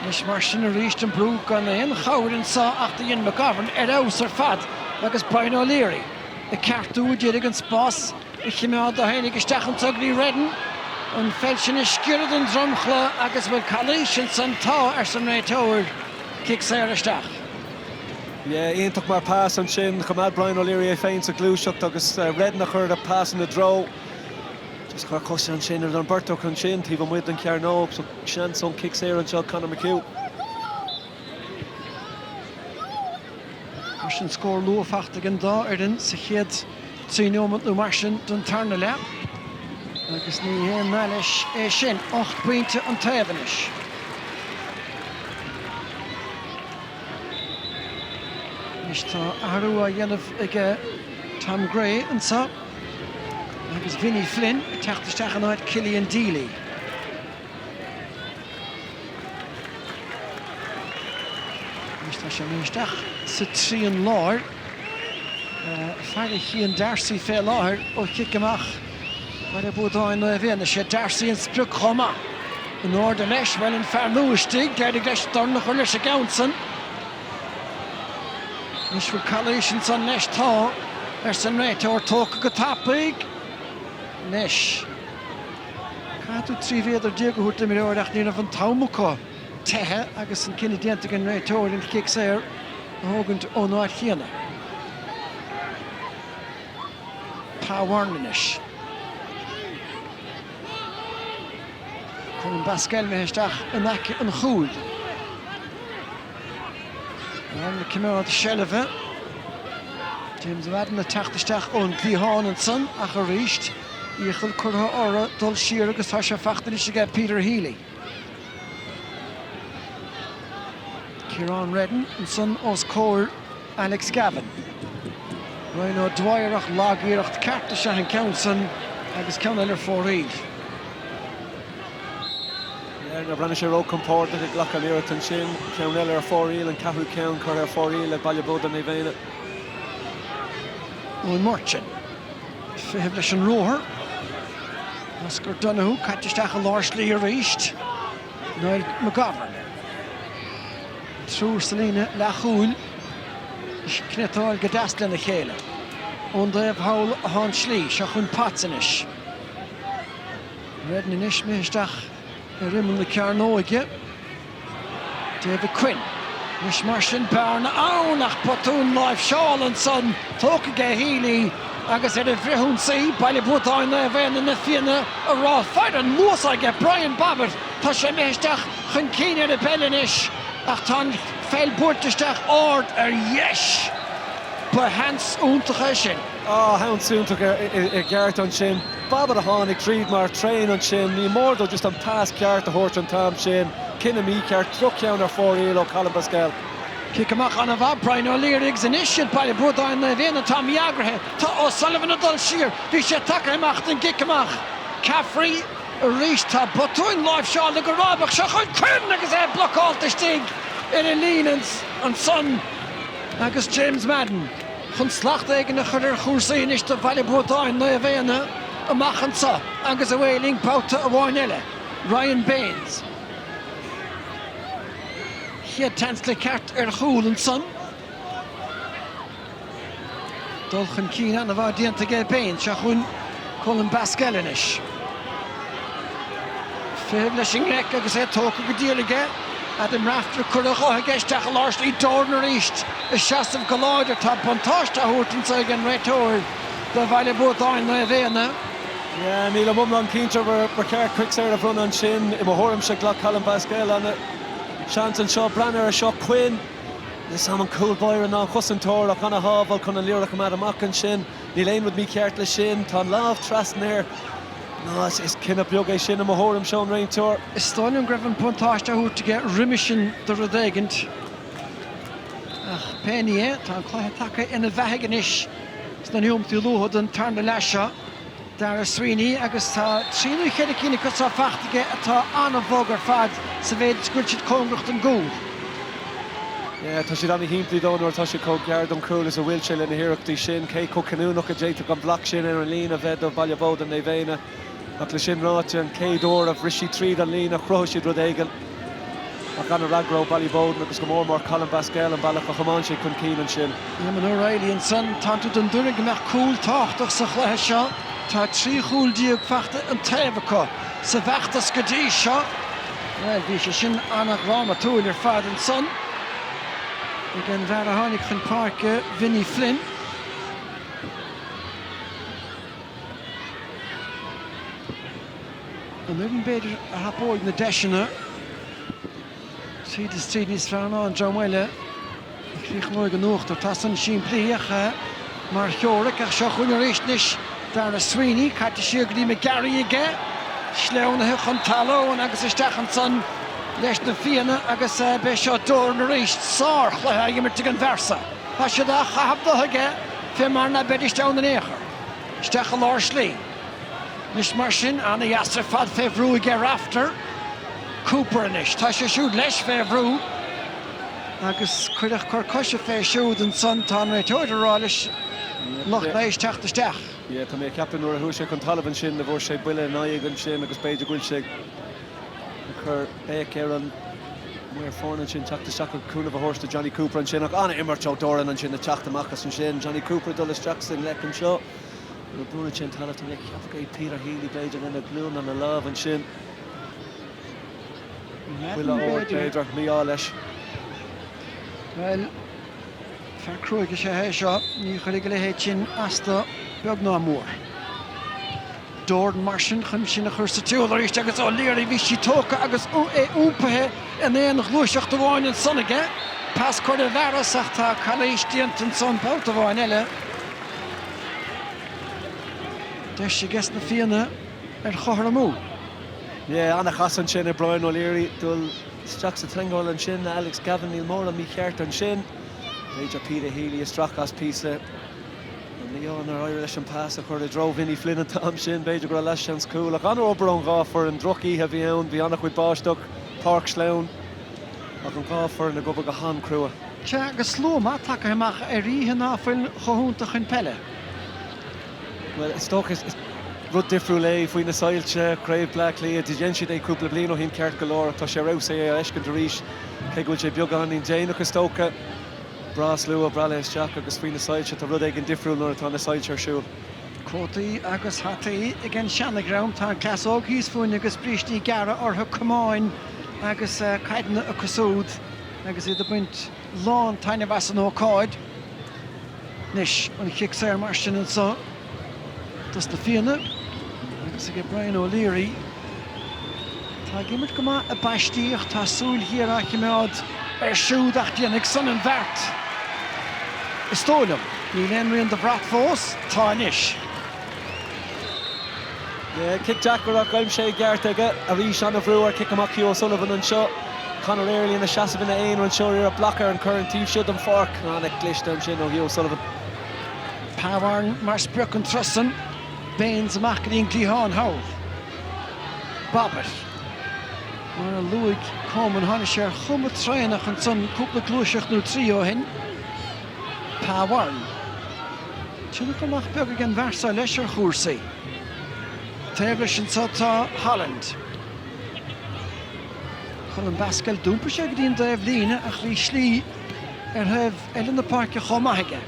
Anois mar sin arís an brú gan aon chabhair anseo ach do dhein McGovern ar fheabhas ar fad agus Brian O'Leary ag ceartú a d'iarraidh an spás a chimeád do tháinig isteach an tograí Reddin an pheil sin a sciorradh den dromchla agus bhfuil calaois ansan? Tá, arsa an réiteoir, cic saor isteach. Yeah, iontach mar pass ansin. Choimeád Brian O'Leary é féin sa ghluaiseacht agus Reddin a chuir an pass ina dtreo. Just chuir cos ansin ar an mbeirt acu ansin taobh amuigh den chearnóg. So seans ón chic saor anseo ag Conor McHugh. Mar sin scór luath faighte ag an dá fhoireann sa chéad trí nóiméad nó mar sin den tarna leath. Agus ní haon nath leis é sin. Ocht bpointe an taobh anois. Anois tá athrú á dhéanamh ag Tom Gray anseo agus Vinny Flynn ag teacht isteach in áit Killian Deeley. Anois tá sé imithe isteach sa trian láir fara Chian Darcy fé láthair ó chic amach. Bhaile Buadáin Naomh Éanna, is é D'Arcy an sprioc chomh maith. In airde leis, bhuel, an fear nua istigh, d'éirigh leis dorn a chur leis an gceann san. Anois, bhfuil calaois ansan leis? Tá, arsa an réiteoir, tógtha go tapaidh. Anois, caithfidh tú trí mhéadar déag a thabhairt d'imreoir ach ní raibh an t-am acu teitheadh agus an cinneadh déanta ag an réiteoir an chic saor a thógaint ón áit chéanna. Pa Warren anois. Colm Basquel imithe isteach in aice an chúil. Madden ag coimeád seilbhe. James Madden ag teacht isteach ón gcliathán ansan ach arís iachall curtha orthu dul siar agus tá sé faighte anois aige Peter Healy. Ciarán Reddin ansan os comhair Alex Gavin. Ryan O'Dwyer ach lag-iarracht ceart is ea an ceann san agus ceann eile ar fóraoil. B'fhéidir nár bhreathnaigh sé ró-chompordach ag glacadh an iarracht ansin. Ceann eile ar fóraoil, an ceathrú ceann curtha ar fóraoil ag Baile Buadáin Naomh Éanna. Eoin Murchan. Fiche amuigh leis an ruathar. Oscar Donoghue caite isteach i lár slí arís. Niall McGovern. An triúr sa líne leathchúil ag cniotáil go deas lena chéile. Ón dtaobh thall den tslí. Seo chugainn Potts anois. Reddan anois, Smith isteach ar imeall na cearnóige. David Quinn, Anois mar sin, bearna ann ach botún láimhseála ansan, tógtha aige Healy agus ar an bhfrithionsaí, Baile Buadáin Naomh Éanna na Fianna a rá, faire an luas aige Brian Bobbett, tá sé imithe isteach chun cinn ar an bpeil anois ach tá an pheil curtha isteach ard ar dheis. Ba sheans iontach é sin. Ó, an-seans iontach i gceart ansin. Bobbett a tháinig tríd mar traein ansin. Ní mór dó just an pas ceart a thabhairt an t-am sin. Cinneadh mícheart. Droch-cheann ar fóraoil ó Colm Basquel. Cic amach an-mhaith. Brian O'Leary agus anois is iad Baile Buadáin Naomh Éanna atá mí-eagraithe. Tá O'Sullivan ag dul siar. Bhí sé tagtha amach don gcic amach. Caffrey arís. Tá botúin láimhseála go rábach. Seo chugainn Quinn agus é blocálta istigh ar an líne ansan agus James Madden. chun slacht éigin a chur ar chúrsaí anois do Bhaile Buadáin, Naomh Éanna amach anseo agus a bhfaighlín babhta amháin eile, Ryan Baynes. Chéad seans ceart ar chúl ansan. Dul chun cinn an-mhaith déanta aige Baynes, seo chugainn Colm Basquel anois. Fiche amuigh leis i ngleic agus é tógtha go diail aige. Adam Rafter, curtha ar aghaidh aige isteach i lár slí Jordan arís. Ag seasamh go láidir, tá buntáiste á thabhairt anseo ag an réiteoir do Bhaile Buadáin Naomh Éanna. Nílim iomlán cinnte ar cheart cic saor a bhronnadh ansin. I mo thuairimse, ghlac Colm Basquel an seans anseo. Breathnaigh air seo, Quinn. Níos mó an cúl báire ná an cosantóir ach an-shábháil chun an liathróid a choimeád amach ansin. Níl aon rud mícheart leis sin. Tá an lámh trasna air. No, is cinneadh bog é sin i mo thuairimse ón réiteoir. Is dóigh liom go raibh an buntáiste á thabhairt aige roimhe sin do rud éigint. Ach pé ní é, tá an cluiche tagtha ina bheathaidh anois sna nóimintí luatha den tarna leath seo. Darragh Sweeney agus tá trí nó ceithre cinn acu san fachta aige atá an-bhog ar fad sa mhéid is go bhfuil siad cóngarach don gcúl. Yeah, tá siad an-shimplí dó nuair atá siad chomh gearr don chúl is a bhfuil sé lena hiarrachtaí sin. Cé chomh cinniúnach a d'fhéadfadh an bloc sin ar an líne a bheith do Bhaile Buadáin Naomh Éanna? Ach leis sin ráite, an chéad uair a bhris siad tríd an líne, chruthaigh siad rud éigin. Ach an-fhreagra ó Ballyboden agus go mór mór Colm Basquel an bealach a chomáin sé chun cinn ansin. Eamon O'Reilly ansan. Tánn tú den dtuairim go mbeadh cúl tábhachtach sa chluiche seo. Tá trí chúl déag fachta an taobh acu sa bhfeachtas go dtí seo. Bhuel, bhí sé sin an-dhrámatúil ar fad ansan ag an bhfear a tháinig chun páirce, Vinny Flynn. An fhoireann b'fhéidir a thapóidh na deiseanna tríd is tríd níos fearr ná an dream eile a chríochnóidh in uachtar. Tá san simplíoch mar theoiric ach seo chugainn arís anois. Darragh Sweeney, caite siar go dtí McGarry aige, sleamhnaithe chun talún agus isteach ansan leis na Fianna agus beidh seo Doran arís. Sárchluiche á imirt ag an bhfear so. Tá siad á chaitheamh de aige fé mar ná beidís ann in aon chor, isteach i lár slí. Anois mar sin, an-dheas ar fad fé bhrú aige Rafter. Cooper anois. Tá sé siúd leis fé bhrú agus cuireadh cor coise fé siúd. Ansan tá an réiteoir ag rá leis lucht leighis teacht isteach. Yeah, tá mé ag ceapadh nuair a chuaigh sé chun talaimh ansin go bhfuair sé buille in aghaidh ansin agus b'fhéidir go bhfuil sé ag cur béic ar an maor foirne ansin teacht isteach agus cúnamh a thabhairt do Johnny Cooper ansin ach an-imirt ó Doran ansin ag teacht amach as ansin. Johnny Cooper ag dul isteach sa ngleic anseo. Nuair a bhuaileann sé an talamh tá mé ag ceapadh go mbeidh Peter Healy b'fhéidir lena ghlúin lena lámh ansin. Chuile shórt b'fhéidir, mí-ádh leis. Bhuel, fear cruaidh is ea é seo, ní chuirfidh a leithéid sin as dó, beag ná mór. Doran mar sin chun sinn a chur sa tsiúl arís agus O'Leary, bhí sí tógtha agus é iompaithe in aon ghluaiseacht amháin ansan aige. Pas á chur i bhfearas ach tá calaois déanta ansan, babhta amháin eile. Deis aiges na Fianna ar chothromú. Yeah, an-chas ansin ag Brian O'Leary dul isteach sa teangmháil ansin, Alex Gavin, níl mórán mícheart ansin. B'fhéidir Peter Healy isteach as píosa mí-ádh nár éirigh leis an pas a chur i dtreo Vinny Flynn an t-am sin, b'fhéidir go raibh leathsheans cúil ach an-obair ón dhá foireann, droch-oíche a bhí ann, bhí an-chuid báisteach, páirc sleamhain. Ach an dá foireann ag obair go han-crua? Sea, agus slua maith tagtha amach ar oíche ná fuil chomh hiontach chun peile? Bhuel, is dócha, is rud difriúil é faoi na soilse, craobh Bleá Cliath, dhein siad é cúpla bliain ó shin ceart go leor ach tá sé ar fheabhas é a fheiscint arís, cé go bhfuil sé beagáinín déanach is dócha. Breá slua, breá le isteach agus faoi na soilse, tá rud éigin difriúil nuair atá na soilse ar siúl. Cótaí agus hataí ag an seanadhream. Tá an cleas óg thíos fúinn agus brístí gearra orthu, camáin agus caideanna acu súd agus iad ag baint lán taitneamh as an ócáid. Anois an chic saor mar sin anso dos na Fianna agus aige Brian O'Leary. Tá ag imirt go maith i bpaistí ach tá súil ghéar á chimeád air siúd ach déanfaidh san an bheart is dóigh liom. Níl aon rian de bhrat fós. Tá anois. Cic deacair ach aimsithe i gceart aige. Arís ana bhrú ar chic amach Hugh O'Sullivan anseo. Conor Early ina sheasamh ina aonar anseo iarracht blaice ar an chur an taobh seo den pháirc. Ana chliste ansin ó Hugh O'Sullivan. Pa Warren mar sprioc an turas san. Baynes amach go dtí an cliathán thall. Bobbett, mar a luaigh Coman, tháinig sé ar chuma traenach ansan cúpla gluaiseacht nó trí ó shin. Pa Warren, tionchar nach beag ag an bhfear seo leis ar chúrsaí. Taobh leis anso tá Holland. Colm Basquel, d'iompaigh sé go dtí an taobh líne ach bhí slí ar thaobh eile na páirce chomh maith aige.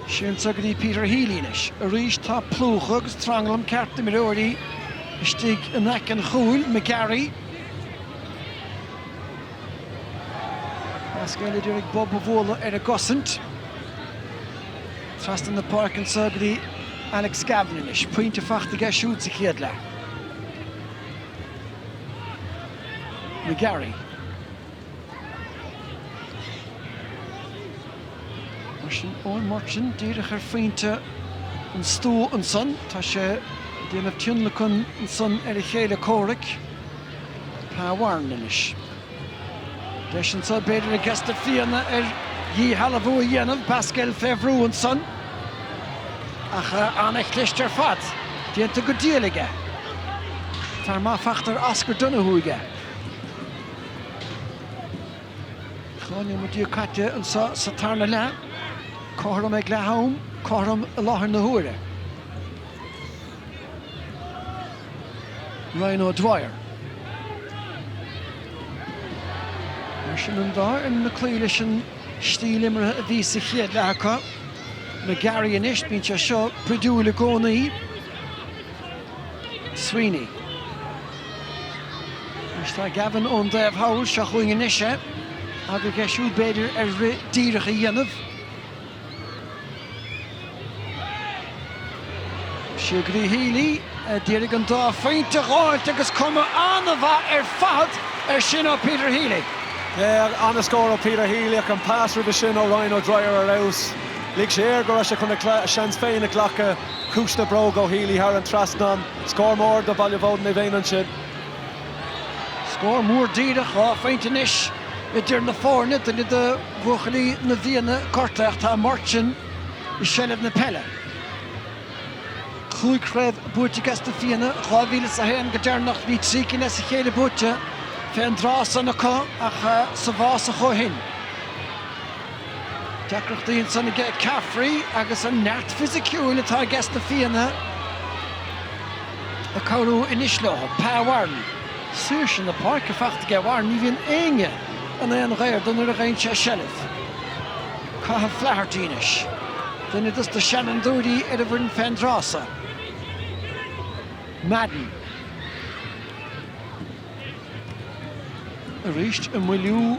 Sin so go dtí Peter Healy anois. Arís tá plúchadh agus tranglam ceart d'imreoirí istigh in aice an chúil, McGarry, Basquel a d'iarraidh bob a bhualadh ar an gcosaint. Trasna na páirce anso go dtí Alex Gavin anois. Pointe fachta aige siúd sa chéad leath. McGarry. Mar sin Eoin Murchan díreach ar phointe an stua ansan. Tá sé ag déanamh tionlacan ansan ar a chéile comhraic, Pa Warren anois. Deis anso b'fhéidir ages na Fianna ar dhíshealbhú a dhéanamh, Basquel fé bhrú ansan ach an-chliste ar fad déanta go diail aige. Fear maith fachta ar Oscar Donohoe aige. Dhá neomat déag caite anseo sa tarna leath. Cothrom ag leath am, cothrom i láthair na huaire. Ryan O'Dwyer. Mar sin an dá fhoireann ag cloí leis an stíl imeartha a bhí sa chéad leath acu. McGarry anois, bíonn sé seo spridiúil i gcónaí. Sweeney. Anois tá Gavin ón dtaobh thall seo chugainn anois é agus deis aige siúd b'fhéidir ar rith díreach a dhéanamh. Seo go dtí Healy a d'iarraidh an dá phointe a dh'fháilt agus cuma an-mhaith ar fad ar sin ó Peter Healy. Yeah, an-scór ó Peter Healy ach an pas roimhe sin ó Ryan O'Dwyer ar fheabhas. Lig sé air go raibh sé chun a seans féin a ghlacadh. Ciumhais na bróige ó Healy thar an trasnán. Scór mór do Bhaile Buadáin Naomh Éanna ansin. Scór mór díreach, dhá phointe anois idir na foirne, duine de bhuachaillí na bhFianna gortaithe ach tá Martin i seilbh na peile. Cúig chraobh buaite aige sna Fianna, 2001 go deireanach, bhí trí cinn as a chéile buaite fén dtráth san acu ach sa bhfásach ó shin. Deacrachtaí ansin aige Caffrey agus an neart fisiciúil atá aige sna Fianna ag cabhrú anois leo. Pa Warren. Saoirse na páirce faighte aige Warren, ní bhíonn éinne in aon ghaor dó nuair a gheibheann sé seilbh. Cathal Flaherty anois. Duine dos na seanfhondúirí ar an bhfoireann fén dtráth so. Madden. Arís ag moilliú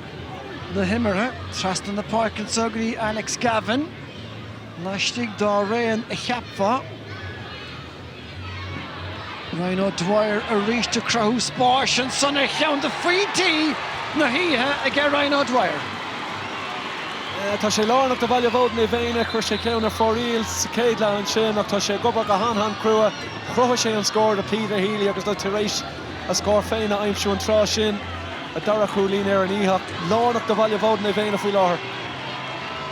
na himeartha trasna na páirce anso go dtí Alex Gavin laistigh dá raon a cheapfá. Ryan O'Dwyer arís ag cruthú spáis ansan ar cheann de phointí na hoíche aige Ryan O'Dwyer. Tá sé lárnach do Bhaile Buadáin Naomh Éanna, chuir sé ceann ar fóraoil sa chéad leath ansin ach tá sé ag obair go han-han-chrua. Chruthaigh sé an scór do Peter Healy agus é tar éis a scór féin a aimsiú an tráth sin, a dara cúilín ar an oíche lárnach do Bhaile Buadáin Naomh Éanna faoi láthair.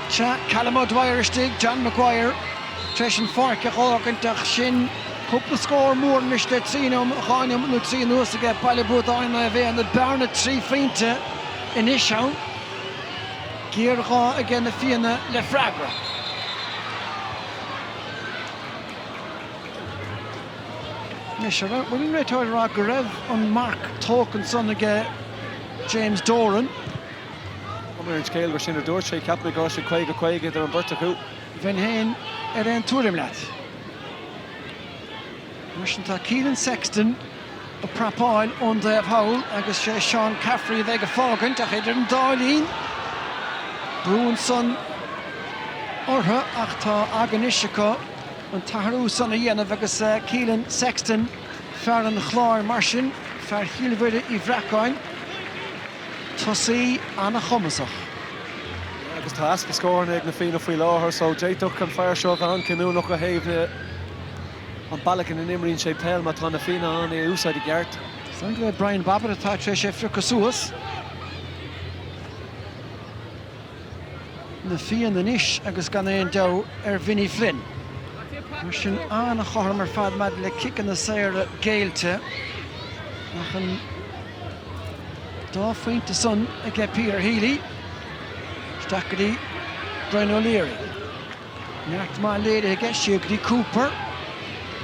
Tá Callum O'Dwyer istigh, John Maguire tar éis an pháirc a dh'fhágaint ach sin cúpla scór mór anois le trí nóim dhá nóiméad nó trí anuas aige Baile Buadáin Naomh Éanna bearna trí phointe anois ann, géarghá aige na Fianna le freagra. Anois, an bhfuil an réiteoir ag rá go raibh an marc tógtha ansan aige James Doran? Tá cuma ar an scéal gur sin a dúirt sé. Cheap mé go raibh sé 50, 50 idir an bheirt acu. Bheinn féin ar aon tuairim leat. Mar sin tá Keelan Sexton ag prapáil ón dtaobh thall agus sé Seán Caffrey a bheidh ag fágaint ach idir an dá linn brú ansan orthu ach tá aga anois acu. an t-athrú san a dhéanamh agus Keelan Sexton, fear an Chláir, mar sin, fear Chill Mhuire Uí Bhreacáin, tosaí an-chumasach. agus tá easpa scóranna ag na Fianna faoi láthair só d'fhéadfadh an fear seo a bheith an-cinniúnach ó thaobh na an bealach ina n-imríonn sé peil má tá na Fianna in ann é a úsáid i gceart. Is dóigh gur é Brian Bobbett atá tar éis é a phiocadh suas. na Fianna anois agus gan aon deabhadh ar Vinny Flynn. Mar sin an-chothrom ar fad maidir le ciceanna saora géillte ach an dá phointe san aige Peter Healy. Isteach go dtí Brian O'Leary. Neart maith léirithe aige siúd go dtí Cooper.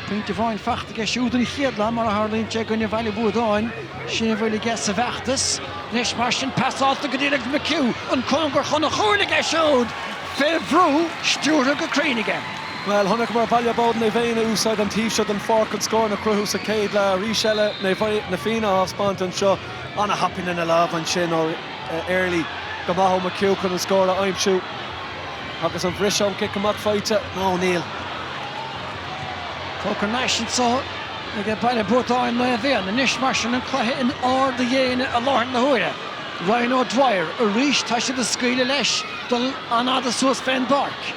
Pointe amháin faighte aige siúd an chéad lá mar a tharlaíonn sé i gcoinne Bhaile Buadáin. Sin a bhfuil aige sa bhfeachtas. Anois mar sin pasálta go dtí Alex McHugh. An cóngar chun an chúil aige siúd! Fé bhrú stiúrtha go cruinn aige. Bhuel, chonaiceamar Baile Buadáin Naomh Éanna ag úsáid an taobh seo den pháirc chun scóranna a chruthú sa chéad leath. Arís eile, Na Fianna á thaispeáint anseo. Ana-thapaidh lena lámha ansin ó Early. Go maith ó McHugh chun an scór a aimsiú. Agus an briseadh ón gcic amach faighte? Nó níl. Tógtha thar n-ais anseo ag Baile Buadáin Naomh Éanna anois mar sin an cluiche in ard a dhéine i láthair na huaire. Ryan O'Dwyer, arís tá siad ag scaoileadh leis dul an-fhada suas fén bpáirc.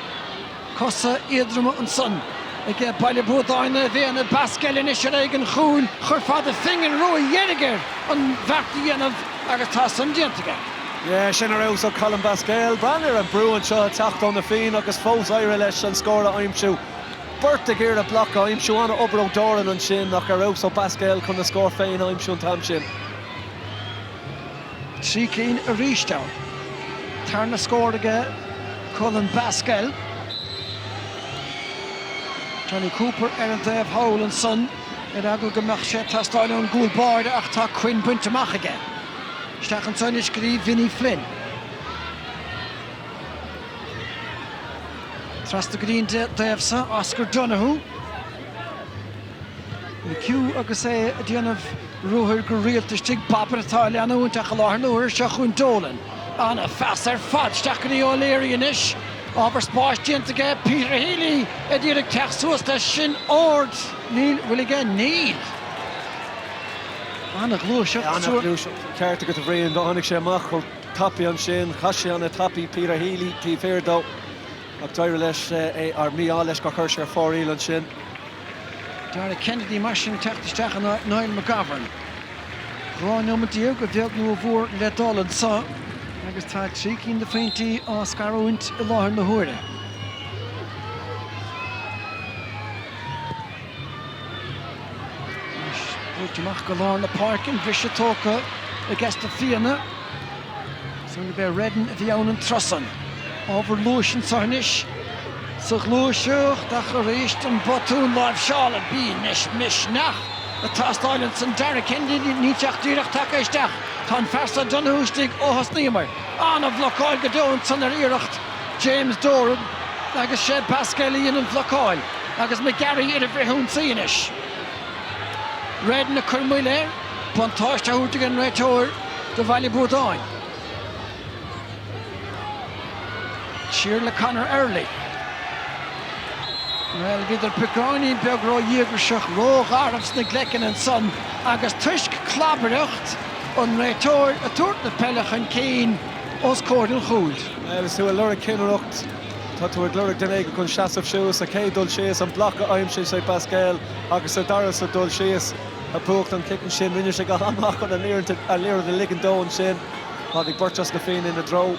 Cosa éadroma ansan ag Baile Buadáin Naomh Éanna, Basquel anois ar aghaidh an chúil chuirfeá do phingin rua dheiridh air an bheart a dhéanamh agus tá san déanta aige. Sin ar fheabhas ó Colm Basquel. Breathnaigh ar an mbrú anseo ag teacht ó Na Fianna agus fós d'éirigh leis an scór a aimsiú. Beirt ag iarraidh bloc a aimsiú, an-obair ó Doran ansin ach ar fheabhas ó Basquel chun a scór féin a aimsiú an t-am sin. Trí cinn arís ann. Tarna scór aige Colm Basquel. Jonny Cooper ar an dtaobh thall ansan ar eagla go mbeadh sé ag teastáil ón gcúl báire ach tá Quinn bainte amach aige. Isteach ansan anois go dtí Vinny Flynn. Trasna go dtí an dtaobh so, Oscar Donohoe. McHugh agus é ag déanamh ruathair go rialta istigh. Bobbett atá á leanúint ach i láthair na huaire seo chugainn Dolan. An-phas ar fad. Isteach go dtí O'Leary anois. Ábhar spáis déanta aige. Peter Healy ag iarraidh teacht suas leis. Sin ard. An bhfuil aige? Níl. An-ghluaiseacht, ceart agat a Bhriain. Tháinig sé amach chomh tapaidh ansin, chas sé an-tapaidh. Peter Healy taobh thiar dó ach d'éirigh leis, ar mí-ádh leis gur chuir sé ar fóraoil ansin. Dara Kennedy mar sin teacht isteach in áit Niall McGovern. Dhá nóimeat déag, a bheag nó a mhór, le dul anseo agus tá trí cinn de phointí á scarúint i láthair na huaire. Anois buailte amach go lár na páirce, an briseadh tógtha aiges na Fianna. Is dóigh liom gurb é Reddin a bhí ann an tráth san. Ábhar luais anseo anois. Sa ghluaiseacht, ach arís an botún láimhseála. Bímis misneach ag teastáil ansan. Dara Kennedy, níl sé ach díreach tagtha isteach. Tá an fear seo Donohoe istigh ó thosnaíomar. An-bhlocáil go deo ansan ar iarracht. James Doran agus is é Basquel a dhein an bhlocáil agus McGarry ar an bhfrithionsaí anois. Reddin ag cur moill air buntáiste á thabhairt ag an réiteoir do Bhaile Buadáin. Siar le Conor Early. Bhuel, bhíodar beagáinín beag ró-dhíograiseach, ró-gharbh sna gleiceanna ansan agus toisc clabaireacht an réiteoir ag tabhairt na peile chun cinn, os comhair an chúil. Agus tú ag lorg cinnireacht, tá tú ag lorg duine éigin chun seasamh suas. Sa chéad dul síos, an bloc a aimsigh sé Basquel, agus sa dara sa dul síos, a bhuacht an chic ansin. Rinne sé go maith chun an liathróid a ligint dó ansin. Tháinig beirt as na Fianna ina dtreo.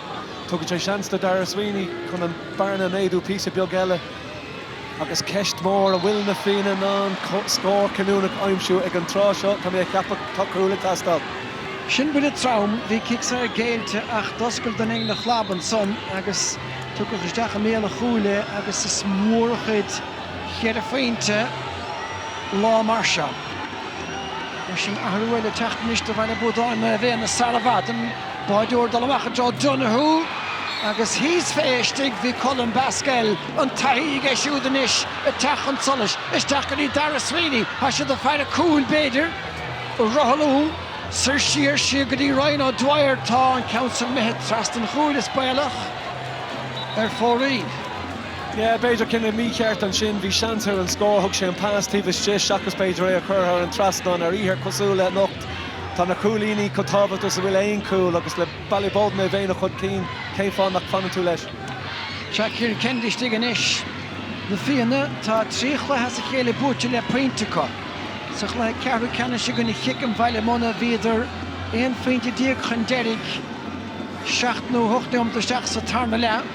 Tugann sé seans do Darragh Sweeney chun an bearna a méadú píosa beag eile. Agus ceist mhór, an bhfuil na Fianna in ann scór cinniúnach a aimsiú ag an tráth seo? Tá mé a cheapadh tá cúl ag teastáil. Sin buille trom. Bhí cic saor géillte ach d'oscail duine éigin a chlab ansan agus tugadh isteach i mbéal an chúil é agus is mór an chuid cheithre phointe lá mar seo. Bhuel, sin athrú eile ag teacht anois do Bhaile Buadáin, Naomh Éanna sara fada. Báideoir dul amach i dtreo Donoghue agus thíos fé istigh bhí Colm Basquel, an taithí aige siúd anois ag teacht chun solais. Isteach go dtí Darragh Sweeney, tá siad ag faire cúil b'fhéidir, á rothlú soir siar siar go dtí Ryan O'Dwyer, tá an ceann san imithe trasna an chúil is baolach ar fóraoil. Yeah, b'fhéidir cinneadh mícheart ansin, bhí seans ar an scór, thug sé an pas taobh istigh seachas b'fhéidir é a chur thar an trasnán ar oíche cosúil le. Tá na cúilíní chomh tábhachtach is a bhfuil aon chúl agus le Ballyboden é bheinn chun cinn. Cén fáth nach fanann tú leis? Tá Kieran Kennedy istigh anois. Na Fianna, tá trí chluiche as a chéile buaite le pointe acu. Sa chluiche ceathrú ceannais i gcoinne Chiceam Bhaile Munna bhíodar 11 phointe chun deiridh seacht nó hocht nóiméad isteach sa tarna leath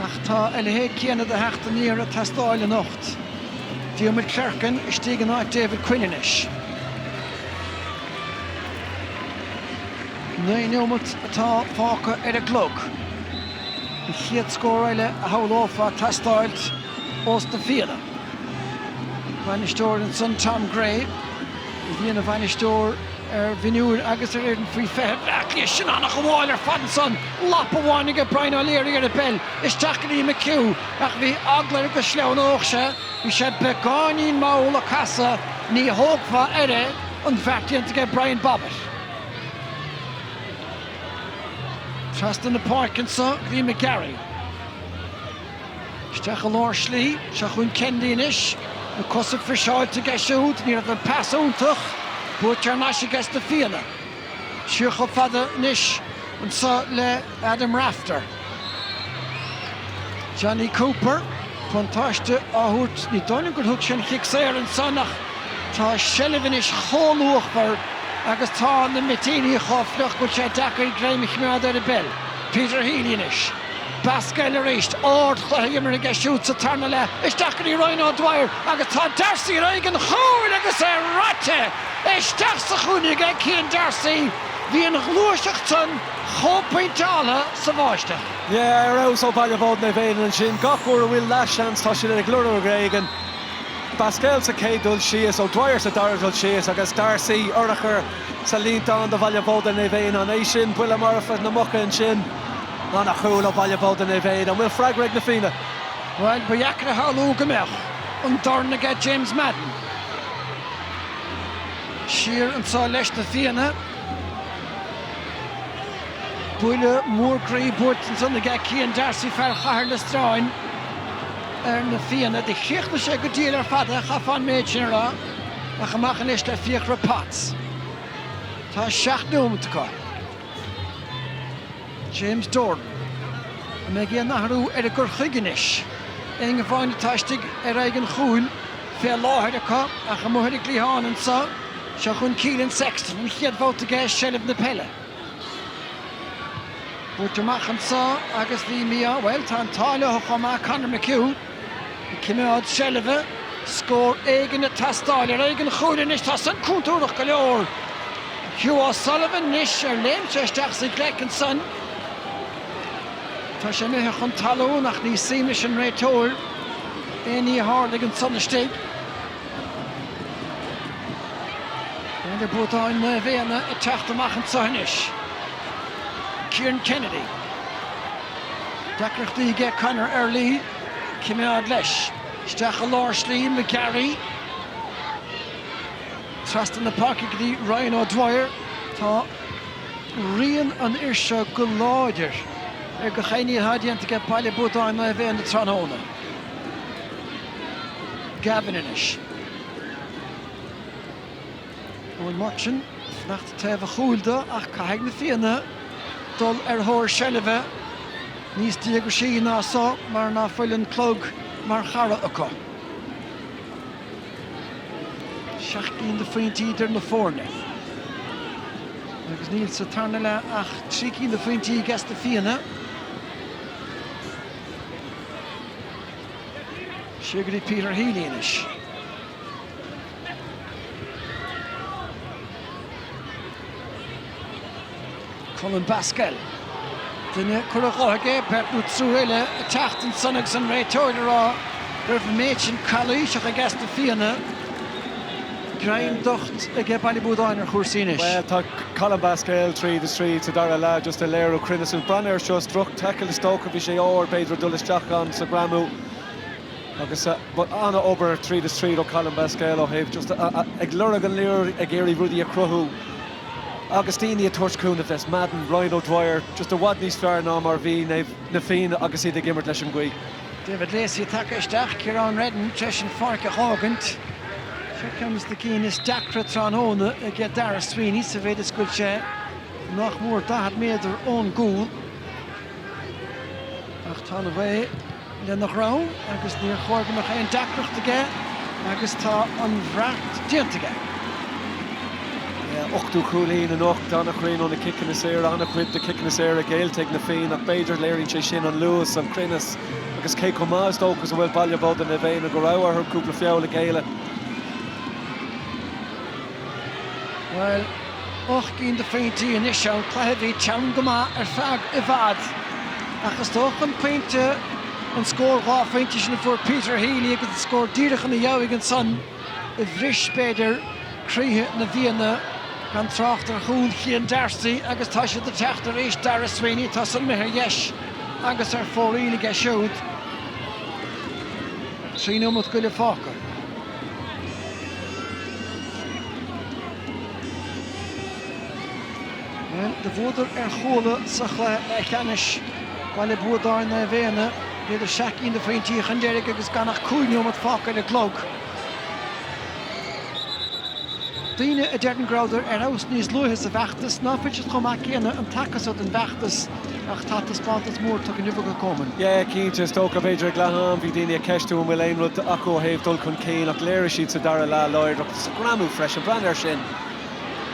ach tá a leithéid céanna de theacht aniar ag teastáil anocht. Diarmuid Clerkin istigh in áit David Quinn anois. Naoi nóimeat atá fágtha ar an gclog. An chéad scór eile a shamhlófá ag teastáilt ós na Fianna. Bainisteoir ansan Tom Gray a bhí ina bhainisteoir ar mhionúir agus ar fhoireann faoi 20 Bhleá Cliath sin ana-ghabháil ar fad ansan lapa amháin aige Brian O'Leary ar an bpeil isteach go dtí McHugh ach bhí eagla air go sleamhnódh sé Bhí sé beagáinín mall ag casadh, ní thógfá air é, an beart déanta aige Brian Bobbett. Trasna na páirce anseo go dtí McGarry. Isteach i lár slí, seo chugainn Kennedy anois, na cosa friseáilte aige siúd, ní raibh an pas iontach, buaite thar n-ais aige sna Fianna. Siar chomh fada anois anso le Adam Rafter. Jonny Cooper, buntáiste á thabhairt, ní dóigh liom gur thug sé an cic saor ansan ach tá seilbh anois chomh luachmhar agus tá na mitíní chomh fliuch go bhfuil sé deacair greim a choimeád ar an bpeil. Peter Healy anois. Basquel arís ardchluiche imeartha aige siúd sa tarna leath isteach go dtí Ryan O'Dwyer agus tá Darcy ar aghaidh an chúil agus é raite isteach sa chúinne aige Cian Darcy. Bhí an ghluaiseacht san chomh pointeáltha sa bháisteach. Yeah, ar fheabhas ó Bhaile Buadáin Naomh Éanna ansin. Gach uair a bhfuil leathsheans tá siad ag lorg ar éigin. Basquel sa chéad dul síos, O'Dwyer sa dara dul síos agus Darcy, urchar, sa líontán do Bhaile Buadáin Naomh Éanna. An é sin buille marfa na muice ansin. Ana-chúl ó Bhaile Buadáin Naomh Éanna, an bhfuil freagra ag na Fianna? Bhuel, ba dheacair a shamhlú go mbeadh an dorn aige James Madden. Siar anso leis na Fianna. Buille mór groí buailte ansan aige Cian D'Arcy, fear Chathair Loistreáin, ar na Fianna. Do chríochnaigh sé go diail ar fad é, chaithfeá an méid sin a rá. Ach amach anois le Fiachra Potts. Tá seacht nóimeat acu. James Doran, an mbeidh aon athrú ar a gcur chuige anois. Éinne amháin atá istigh ar aghaidh an chúil, fé láthair acu ach amuigh ar an gcliathán anso, seo chun Keelan Sexton, an chéad bhabhta aige i seilbh na peile. Buailte amach anso agus bhí mí-ádh, bhuel tá an t-ádh leothu chomh maith, Conor McHugh. Ag coimeád seilbhe, scór éigin ag teastáil ar aghaidh an chúil anois, tá san cúntúrach go leor. Hugh O'Sullivan anois ar léim sé isteach sa ghleic ansan. Tá sé imithe chun talún ach ní suim leis an réiteoir aon ní a tharlaigh ansan istigh. Baile Buadáin Naomh Éanna ag teacht amach anso anois. Kieran Kennedy. Deacrachtaí aige Conor Early, coimeád leis. Isteach i lár slí McGarry. Trasna na páirce go dtí Ryan O Dwyer. Tá rian an fhir seo go láidir ar gach aon ní atá déanta aige Baile Buadáin Naomh Éanna tráthnóna. Gavin anois. Eoin Murchan ag fanacht taobh a chúil do ach caithfidh Na Fianna dul ar thóir seilbhe níos díograisí ná so mar ná fuil an clog mar chara acu. Seacht gcinn de phointí idir na foirne agus níl sa tarna leath ach trí cinn de phointí ages Na Fianna. Siar go dtí Peter Healy anois. Colm Basquel. Duine curtha dó aige, beirt nó triúr eile ag teacht ansan agus an réiteoir ag rá go raibh an méid sin calaoiseach ages na Fianna. Greim docht aige Baile Buadáin ar chúrsaí anois. Bhuel, tá Colm Basquel tríd is tríd sa dara leath, just ag léiriú cruinneas. Breathnaigh air seo, droch taicil is dócha, bhí sé óg, b'fhéidir ag dul isteach ann sa ghreamú. Agus an-obair tríd is tríd ó Colm Basquel ó thaobh just ag lorg an liathróid, ag iarraidh rudaí a chruthú agus daoine ag tabhairt cúnamh. James Madden, Ryan O'Dwyer just i bhfad níos fearr ná mar bhí na Fianna agus iad ag imirt leis an ghaoth. David Lacey tagtha isteach, Ciarán Reddin tar éis an pháirc a dh'fhágaint. Seo ceann des na cinn is deacra tráthnóna ag Daire Sweeney sa mhéid is go bhfuil sé nach mór 40 méadar ón gcúl ach tá an ghaoth, lena dhrom agus níor chóir go mbeadh aon deacracht aige agus tá an beart déanta aige. A ochtú cúilín anocht, an-chruinn ó na ciceanna saora, an-chuid de chiceanna saora géillte ag na Fianna ach b'fhéidir léiríonn sé sin an luas, an cruinneas agus cé chomh maith is dócha is a bhfuil Baile Buadáin Naomh Éanna go raibh orthu cúpla feall a ghéilleadh. Bhuel, ocht gcinn de phointí anois ann, cluiche a bhí teann go maith ar feadh i bhfad. Ach is dócha an pointe, an scór dhá phointe sin a fuair Peter Healy agus an scór díreach ina dheabhaidh ansan a bhris, b'fhéidir, croíthe na bhFianna, gan trácht ar chúl Chéin D'Arcy agus tá siad ag teacht arís, Daire Sweeney, tá san amuigh ar dheis agus ar fóraoil aige siúd. Trí nóimeat go leith fágtha. Do bhuadar ar Chuala sa chluiche leathcheannais, Baile Buadáin Naomh Éanna, bhíodar seacht gcinn de phointí chun deiridh agus gan ach cúig nóiméad fágtha ar an gclog. Daoine a deireann go rabhadar ar fheabhas níos luaithe sa bhfeachtas, ná fuil siad chomh maith céanna an taca so don bhfeachtas. Ach tá taispeántas mór tugtha inniu ag an gCumann. Yeah, cinnte, is dócha, b'fhéidir, ag leath am bhí daoine ag ceistiú an bhfuil aon rud acu ó thaobh dul chun cinn ach léirigh siad sa dara leath láidreacht sa ghreamú freisin. Breathnaigh air sin.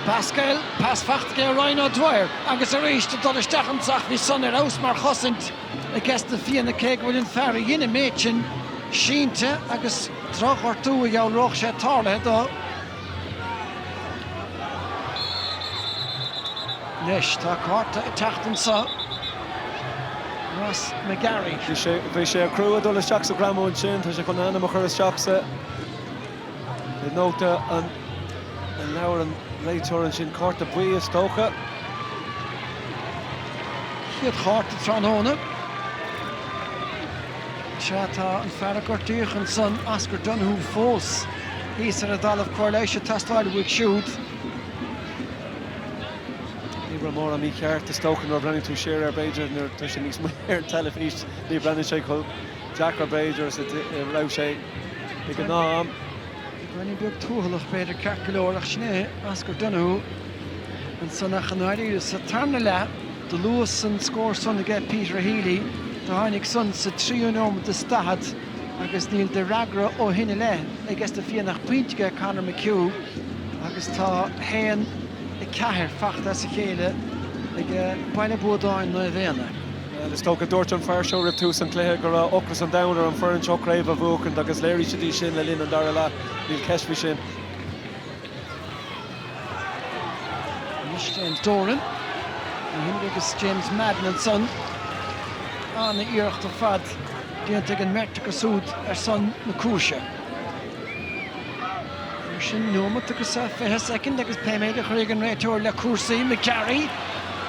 Basquel, pas fachta aige Ryan O'Dwyer agus arís ag dul isteach ann ach bhí san ar fheabhas mar chosaint ages na Fianna cé go bhfuil an fear a dhein an méid sin sínte agus drochghortú a dhealródh sé tarlaithe dó Anois, tá cárta ag teacht anseo. Ross McGarry. Bhí sé crua ag dul isteach sa ghreamú ansin. Tá sé chun a ainm a chur isteach sa nóta an leabhar an réiteoir ansin. Cárta buí is dócha. Chéad chárta tráthnóna. Sea, tá an fear a gortaíodh ansan, Oscar Donohoe, fós. Thíos ar an dtalamh cóir leighis ag teastáil uaidh siúd. Ní raibh mórán mícheart, is dócha, nuair a bhreathnaíonn tú siar air, b'fhéidir, nuair atá sé níos moille ar an teilifís ní bhreathnaíonn sé chomh deacair, b'fhéidir, is a raibh sé ag an am. Roinnt beag tuathalach, b'fhéidir, ceart go leor, ach sin é Oscar Donoghue ansan ach i ndáiríre. Sa tarna leath, do luas an scór san aige Peter Healy, do tháinig san sa tríú neomad is daichead. agus níl d'fhreagra ó shin i leith aiges na Fianna ach pointe aige Conor McHugh agus tá 1, 4 fachta as a chéile ag Baile Buadáin Naomh Éanna. Bhuel, is dócha, dúirt an fear seo roimh tús an chluiche go raibh ocras an domhain ar an bhfoireann seo craobh a bhuachaint agus léirigh siad é sin le linn an dara leath, níl ceist faoi sin. Anois James Doran ó himní agus James Madden ansan. An-iarracht ar fad déanta ag an mbeirt acu siúd ar son na cúise. Sin neomat agus 20 soicind agus pé méid a chuirfidh an réiteoir le cúrsaí, McGarry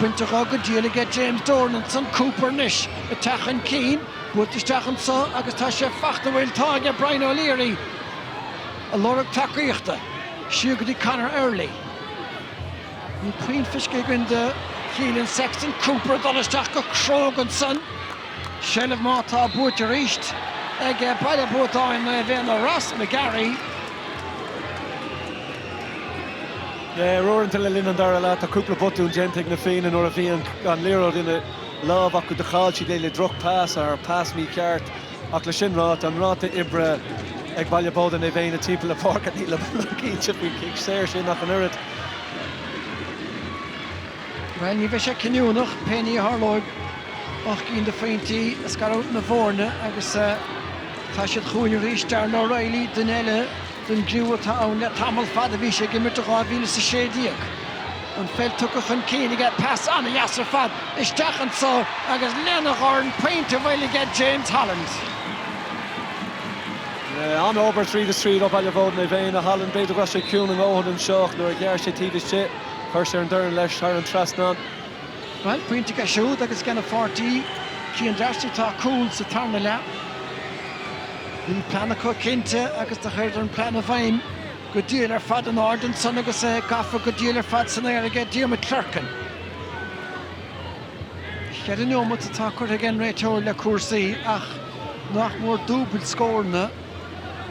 bainte dho go diail aige James Doran ansan, Cooper anois ag teacht chun cinn, buailte isteach anso agus tá sé fachta an bhfuil, tá aige Brian O'Leary ag lorg tacaíochta. Siar go dtí Conor Early. Níl puinn feiscithe againn de Keelan Sexton. Cooper ag dul isteach go cróga ansan. Seilbh má tá buaite arís ag Baile Buadáin Naomh Éanna. Ross McGarry. Yeah, uaireanta le linn an dara leath, tá cúpla botún déanta ag na Fianna nuair a bhí an liathróid ina lámh acu. Do chaill siad é le droch-pas, or pas mícheart. Ach leis sin ráite, an ráta oibre ag Baile Buadáin Naomh Éanna timpeall na páirce, nílim iomlán cinnte faoin gcic saor sin ach an oiread. Bhuel, ní bheidh sé cinniúnach, pé ní a tharlóidh. Ocht gcinn de phointí ag scaradh na bhfoirne agus tá siad chugainn arís. Darragh O'Reilly, duine eile. den gcriú atá ann le tamall fada. Bhí sé ag imirt i 2016. An pheil tugtha chun cinn aige, pas an-deas ar fad isteach anso agus lena dhorn pointe eile aige James Holland. An-obair tríd is tríd ó Bhaile Buadáin Naomh Éanna, Holland. B'fhéidir go raibh sé ciúin a ndóthain anseo ach nuair a ghearr sé taobh istigh, chuir sé an dorn leis thar an trasnán. Bhuel, pointe aige siúd agus aigena pháirtí. Cian D'Arcy Tá cúl sa tarna leath. Bhí plean acu cinnte agus do chuireadar an plean i bhfeidhm go diail ar fad in airde ansan agus é gafa go diail ar fad san aer aige Diarmuid Clerkin. Cheithre neomat atá curtha aige an réiteoir le cúrsaí ach nach mór dúbail scóranna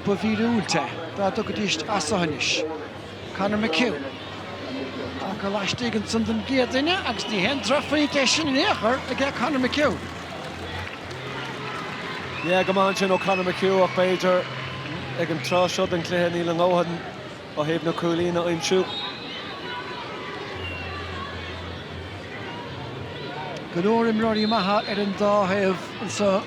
ba mhíorúilt é dá dtiocfaidís as so anois. Conor McHugh, ach tá laistigh ansan don gcéad uair agus ní haon drochphointe é sin in aon chor, a deir Conor McHugh. Yeah, go maith ansin ó Conor McHugh ach b'fhéidir ag an tráth seo den chluiche níl a dhóthain ó thaobh na cúilín a aimsiú. Go leor imreoirí maithe ar an dá thaobh anseo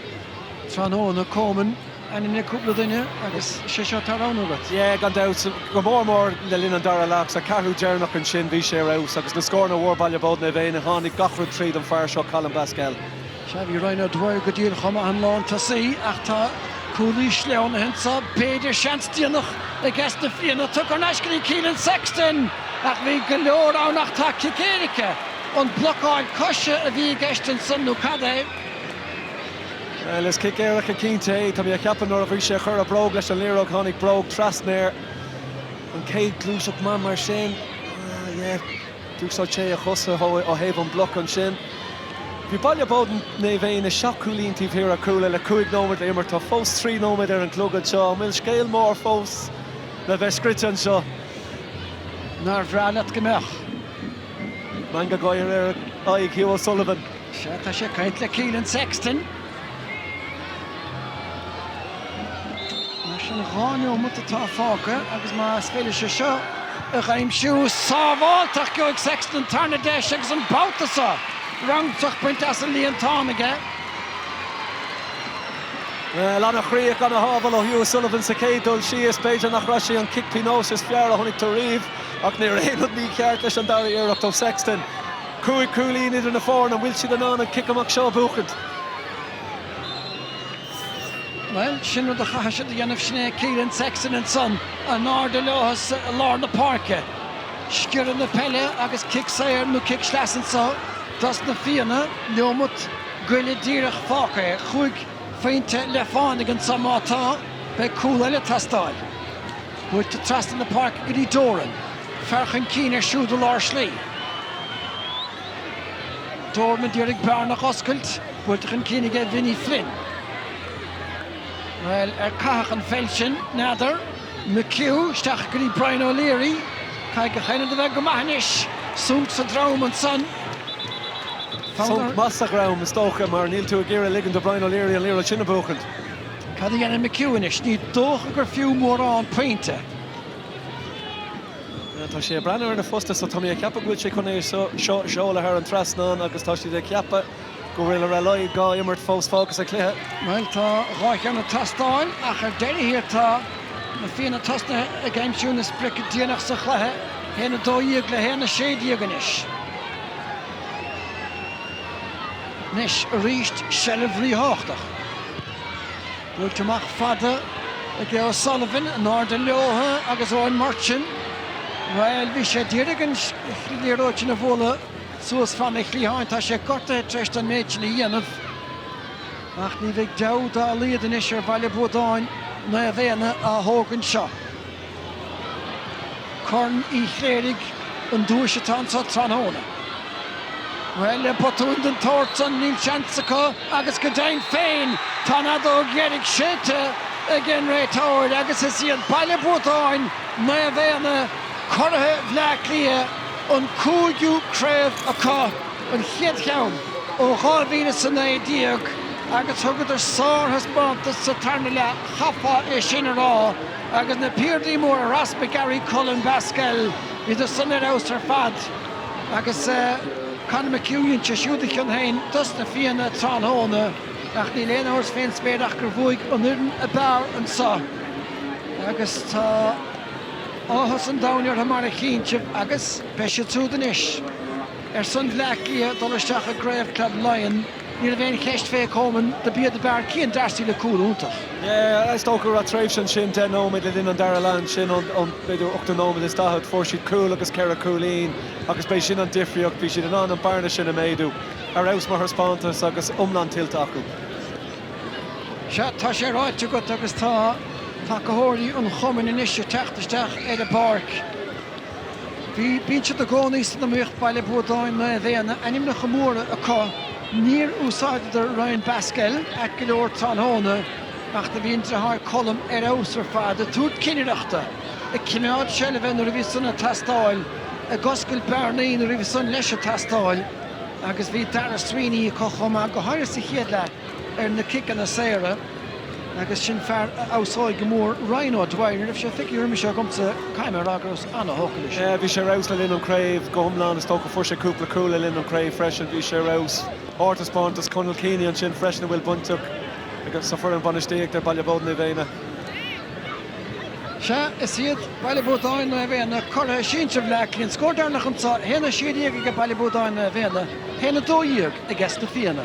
tráthnóna, Coman Ainmnigh cúpla duine agus is é seo atá roghnaithe agat. Yeah, gan dabht. Go mór mór le linn an dara leath sa cheathrú deireanach ansin bhí sé ar fheabhas agus na scóranna a fuair Baile Bhóid Naomh Éanna tháinig gach rud tríd an fear seo Colin Basquel. Sea, bhí Ryan O'Dwyer díreach chomh maith an lántosaí ach tá cúl uathu anso, b'fhéidir seans déanach i gceist dos na Fianna. Tugtha ar ais go dtí Keelan Sexton ach bhí go leor ann ach tá cic éirice. An é blocáil coise a bhí i gceist ansan nó cad é? Bhuel, is cic éirice cinnte é. Tá mé a cheapadh nuair a bhí sé a chur a bhróg leis an liathróidh tháinig bróg trasna air an chéad ghluaiseacht mar sin. Ah yeah. D'úsáid sé a chosa ó thaobh an bloc ansin. Bhí Baile Bóid Naomh Éanna seacht gcúilín taobh thiar ar Cuala le cúig nóiméad le himirt. Tá fós trí nóiméad ar an gclog anseo. An bhfuil scéal mór fós le bheith scríte anseo? Nár bhreá leat go mbeadh? Meangadh gáire ar aghaidh Hugh O'Sullivan. Sea, tá sé ag caint le Keelan Sexton. Mar sin, dhá neomat atá fágtha agus más féidir leis é seo a aimsiú, sábháilte ach gheobhaidh Sexton tarna deis agus an babhta seo, rúntach bainte as an líontán aige. Bhuel, an-chríoch, an-shábháil ó Hugh O'Sullivan sa chéad dul síos. B'fhéidir nárbh é sin an cic pionóis is fearr a chonaic tú riamh ach ní raibh aon rud mícheart leis an dara iarracht ó Sexton. Cúig chúilín idir na foirne, an bhfuil siad in ann an cic amach seo a bhuachaint? Bhuel, sin rud a chaithfidh siad a dhéanamh, sin é Keelan Sexton ansan, in airde leothu i lár na páirce. Sciorradh na peile agus cic saor nó cic sleasa anso dos na Fianna, neomat, go leith díreach fágtha, chúig phointe le fánaidh anso má tá, beidh cúl eile ag teastáil. Buailte trasna na páirce go dtí Doran. Fear chun cinn ar siúd i lár slí. Doran ad iarraidh bearna a oscailt. Buailte chun cinn aige Vinny Flynn. Bhuel, ar caitheadh an pheil sin? N'fheadar. McHugh isteach go dtí Brian O'Leary. Caithfidh an cheannaid a bheith go maith anois. Sonc sa drom ansan. Sonc maith sa dhrom is dócha mar níl tú ag iarraidh ligint do Brian O'Leary an liathróid sin a bhuachaint. Cad a dhéanann McHugh anois? Ní dócha gur fiú mórán pointe. Tá sé ag breathnú ar na postaí so tá mé ag ceapadh go bhfuil sé chun é seo a sheoladh thar an trasnán agus tá siad ag ceapadh go bhfuil ar a laghad dhá imirt fós fágtha sa chluiche. Bhuel tá dhá cheann ag teastáil ach ar deireadh thiar tá Na Fianna tosnaithe ag aimsiú na sprice déanach sa chluiche, 1, 12 le 1, 16 anois. Anois aríst seilbh ríthábhachtach. Buailte amach fada ag Hugh O'Sullivan, in airde leotha agus Eoin Murchan. Bhuel, bhí sé d'iarraidh an liathróid sin a bhualadh suas fan a chliatháin. Tá sé gortaithe tar éis don méid sin a dhéanamh. Ach ní bheidh deabhadh dá laghad anois ar Bhaile Buadáin Naomh Éanna a thógaint seo. Corn Uí Chléirigh an duais atá anseo tráthnóna. Bhuel, le botún den tsórt san níl seans acu agus go deimhin féin tá an fheadóg dheiridh séidte ag an réiteoir agus is iad Baile Buadáin Naomh Éanna, curaithe Bhleá Cliath, an cúigiú craobh acu, an chéad cheann ó 2019 agus thugadar sárthaispeántas sa tarna leath, chaithfeá é sin a rá. Agus na piardaí móra, Ross McGarry, Colm Basquel, bhíodar san ar fheabhas ar fad, agus Conor McHugh dhein sé siúd a chion féin dos na Fianna tráthnóna, ach níl aon amhras fén spéir ach gur bhuaigh an fhoireann a b'fhearr anseo agus tá áthas an domhain orthu mar a chíonn sibh, agus beidh siad siúd anois ar son Bhleá Cliath dul isteach i gCraobh Club Laighean. Ní raibh aon cheist fé Coman, dob iad ab fhearr, Cian Darcy le cúl iontach. Yeah, is dócha go raibh tréimhse ansin deich nóiméad le linn an dara leath ansin ón b'fhéidir ochtú nóiméad is daichead, fuair siad cúl agus ceithre cúilín agus b'é sin an difríocht, bhí siad in ann an bearna sin a méadú. Ar fheabhas mar thaispeántas agus iomlán tuillte acu. Sea, tá sé ráite agat agus tá tacaitheoirí an chumainn anois ag teacht isteach ar an bpáirc. Bíonn siad i gcónaí san iomaíocht, Baile Buadáin, Naomh Éanna, ainmneacha móra acu. Níor úsáideadar Ryan Basquel ait go leor tráthnóna ach do bhí an deartháir Colm ar fheabhas ar fad, ag tabhairt cinnireachta, ag coimeád seilbhe nuair a bhí san ag teastáil, ag oscailt bearnaí nuair a bhí san leis ag teastáil agus bhí Daire Sweeney acu chomh maith, go háirithe sa chéad leath ar na ciceanna saora. Agus sin fear a fheabhsóidh go mór Ryan O Dwyer. Ní raibh sé feicthe roimhe seo agamsa, caithfidh mé a rá go rabhas an-thógtha leis. Bhí sé ar fheabhas le linn an chraobh go hiomlán, is dócha. Fuair sé cúpla cúl le linn an chraobh freisin, bhí sé ar fheabhas. Ardtaispeántas Conal Keaney ansin freisin a bhfuil baint aige sa foireann bhainistíochta ar Baile Buadáin Naomh Éanna. Sea, is iad Baile Buadáin Naomh Éanna curaithe sinsir Bhleá Cliath. An scór deireanach anseo, 1 16 ag Baile Buadáin Naomh Éanna, 1 12 ages Na Fianna.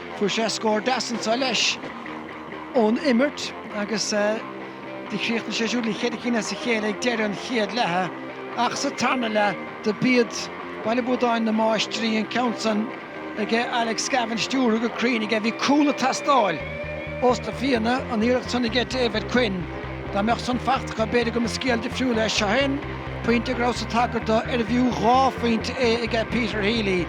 Fuair sé scór deas anso leis ón imirt agus do chríochnaigh sé siúd le cheithre cinn as a chéile ag deireadh an chéad leatha ach sa tarna leath do b'iad Baile Buadáin na máistrí, an ceann san ag Alex Gavin stiúrtha go cruinn aige. Bhí cúl ag teastáil ós na Fianna, an iarracht san aige David Quinn. Dá mbeadh san faighte acu b'fhéidir go mba scéal difriúil é. Seo é an pointe go rabhas ag tagairt dó arbh fhiú dhá phointe é aige Peter Healy.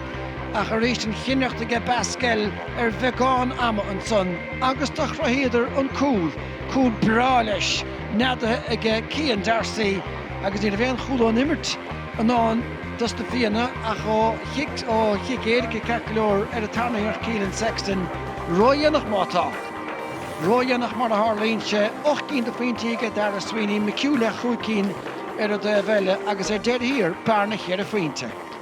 Ach arís an chinnireacht aige Basquel ar bheagán ama ansan agus do chruthaíodar an cúl, cúl breá leis, neadaithe aige Céin Darcy agus ní raibh aon chúl ón imirt i ndán dos na Fianna ach ó chic, ó chic éirice ceart go leor ar an tarna hiarracht Keelan Sexton. Ródhéanach má tá. Ródhéanach mar a tharlaíonn sé. Ocht gcinn de phointí aige Daire Sweeney, McHugh le chúig cinn ar an dtaobh eile agus ar deireadh thiar, bearna cheithre phointe.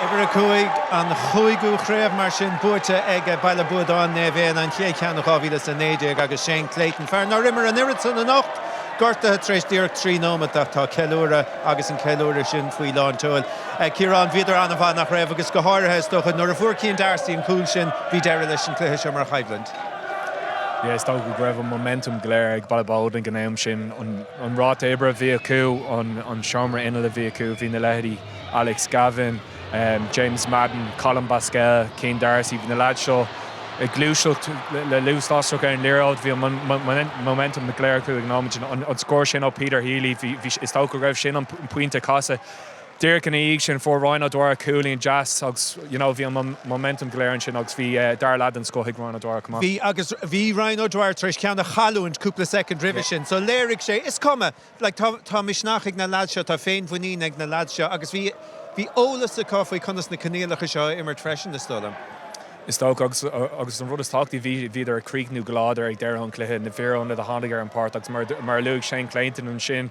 Uimhir a cúig, an chúigiú chraobh mar sin, buaite ag Baile Buadáin, Naomh Éanna, an chéad cheann ó 2019 agus Shane Clayton, fear nár imir an oiread san anocht, gortaithe tar éis díreach trí nóimeat ach tá ceiliúradh agus an ceiliúradh sin faoi lán tseoil. Ciarán, bhíodar an-mhaith, nach raibh? Agus go háirithe, is dócha, nuair a fuair Céin Darcy an cúl sin, bhí deireadh leis an cluiche seo mar choimhlint. Yeah, is dócha go raibh an momentum go léir ag Ballyboden ag an am sin. an ráta oibre a bhí acu, an seomra innill a bhí acu. Bhí na leithéidí Alex Gavin, James Madden, Colm Basquel, Céin D'Arcy, bhí na leaids seo ag gluaiseacht le luas lasrach ar an liathróid. Bhí an momentum go léir acu ag an nóiméad sin. An scór sin ó Peter Healy, is dócha go raibh sin an pointe casadh. díreach ina dhiaidh sin fuair Ryan O'Dwyer cúilín deas agus you know bhí an momentum go léir ansin agus bhí dara leath den scoth ag Ryan O'Dwyer chomh maith. Bhí agus bhí Ryan O'Dwyer tar éis ceann a chailliúint cúpla soicind roimhe sin so léirigh sé, is cuma, like tá tá misneach ag na lads seo, tá féinmhuinín ag na lads seo agus bhí bhí eolas acu faoi conas na coinníollacha seo a imirt freisin is dóigh liom. Is dócha agus agus an rud is tábhachtaí bhí bhíodar ag críochnú go láidir ag deireadh an chluiche, na fir ionaid a tháinig ar an páirc agus mar mar a luaigh Shane Clayton ansin,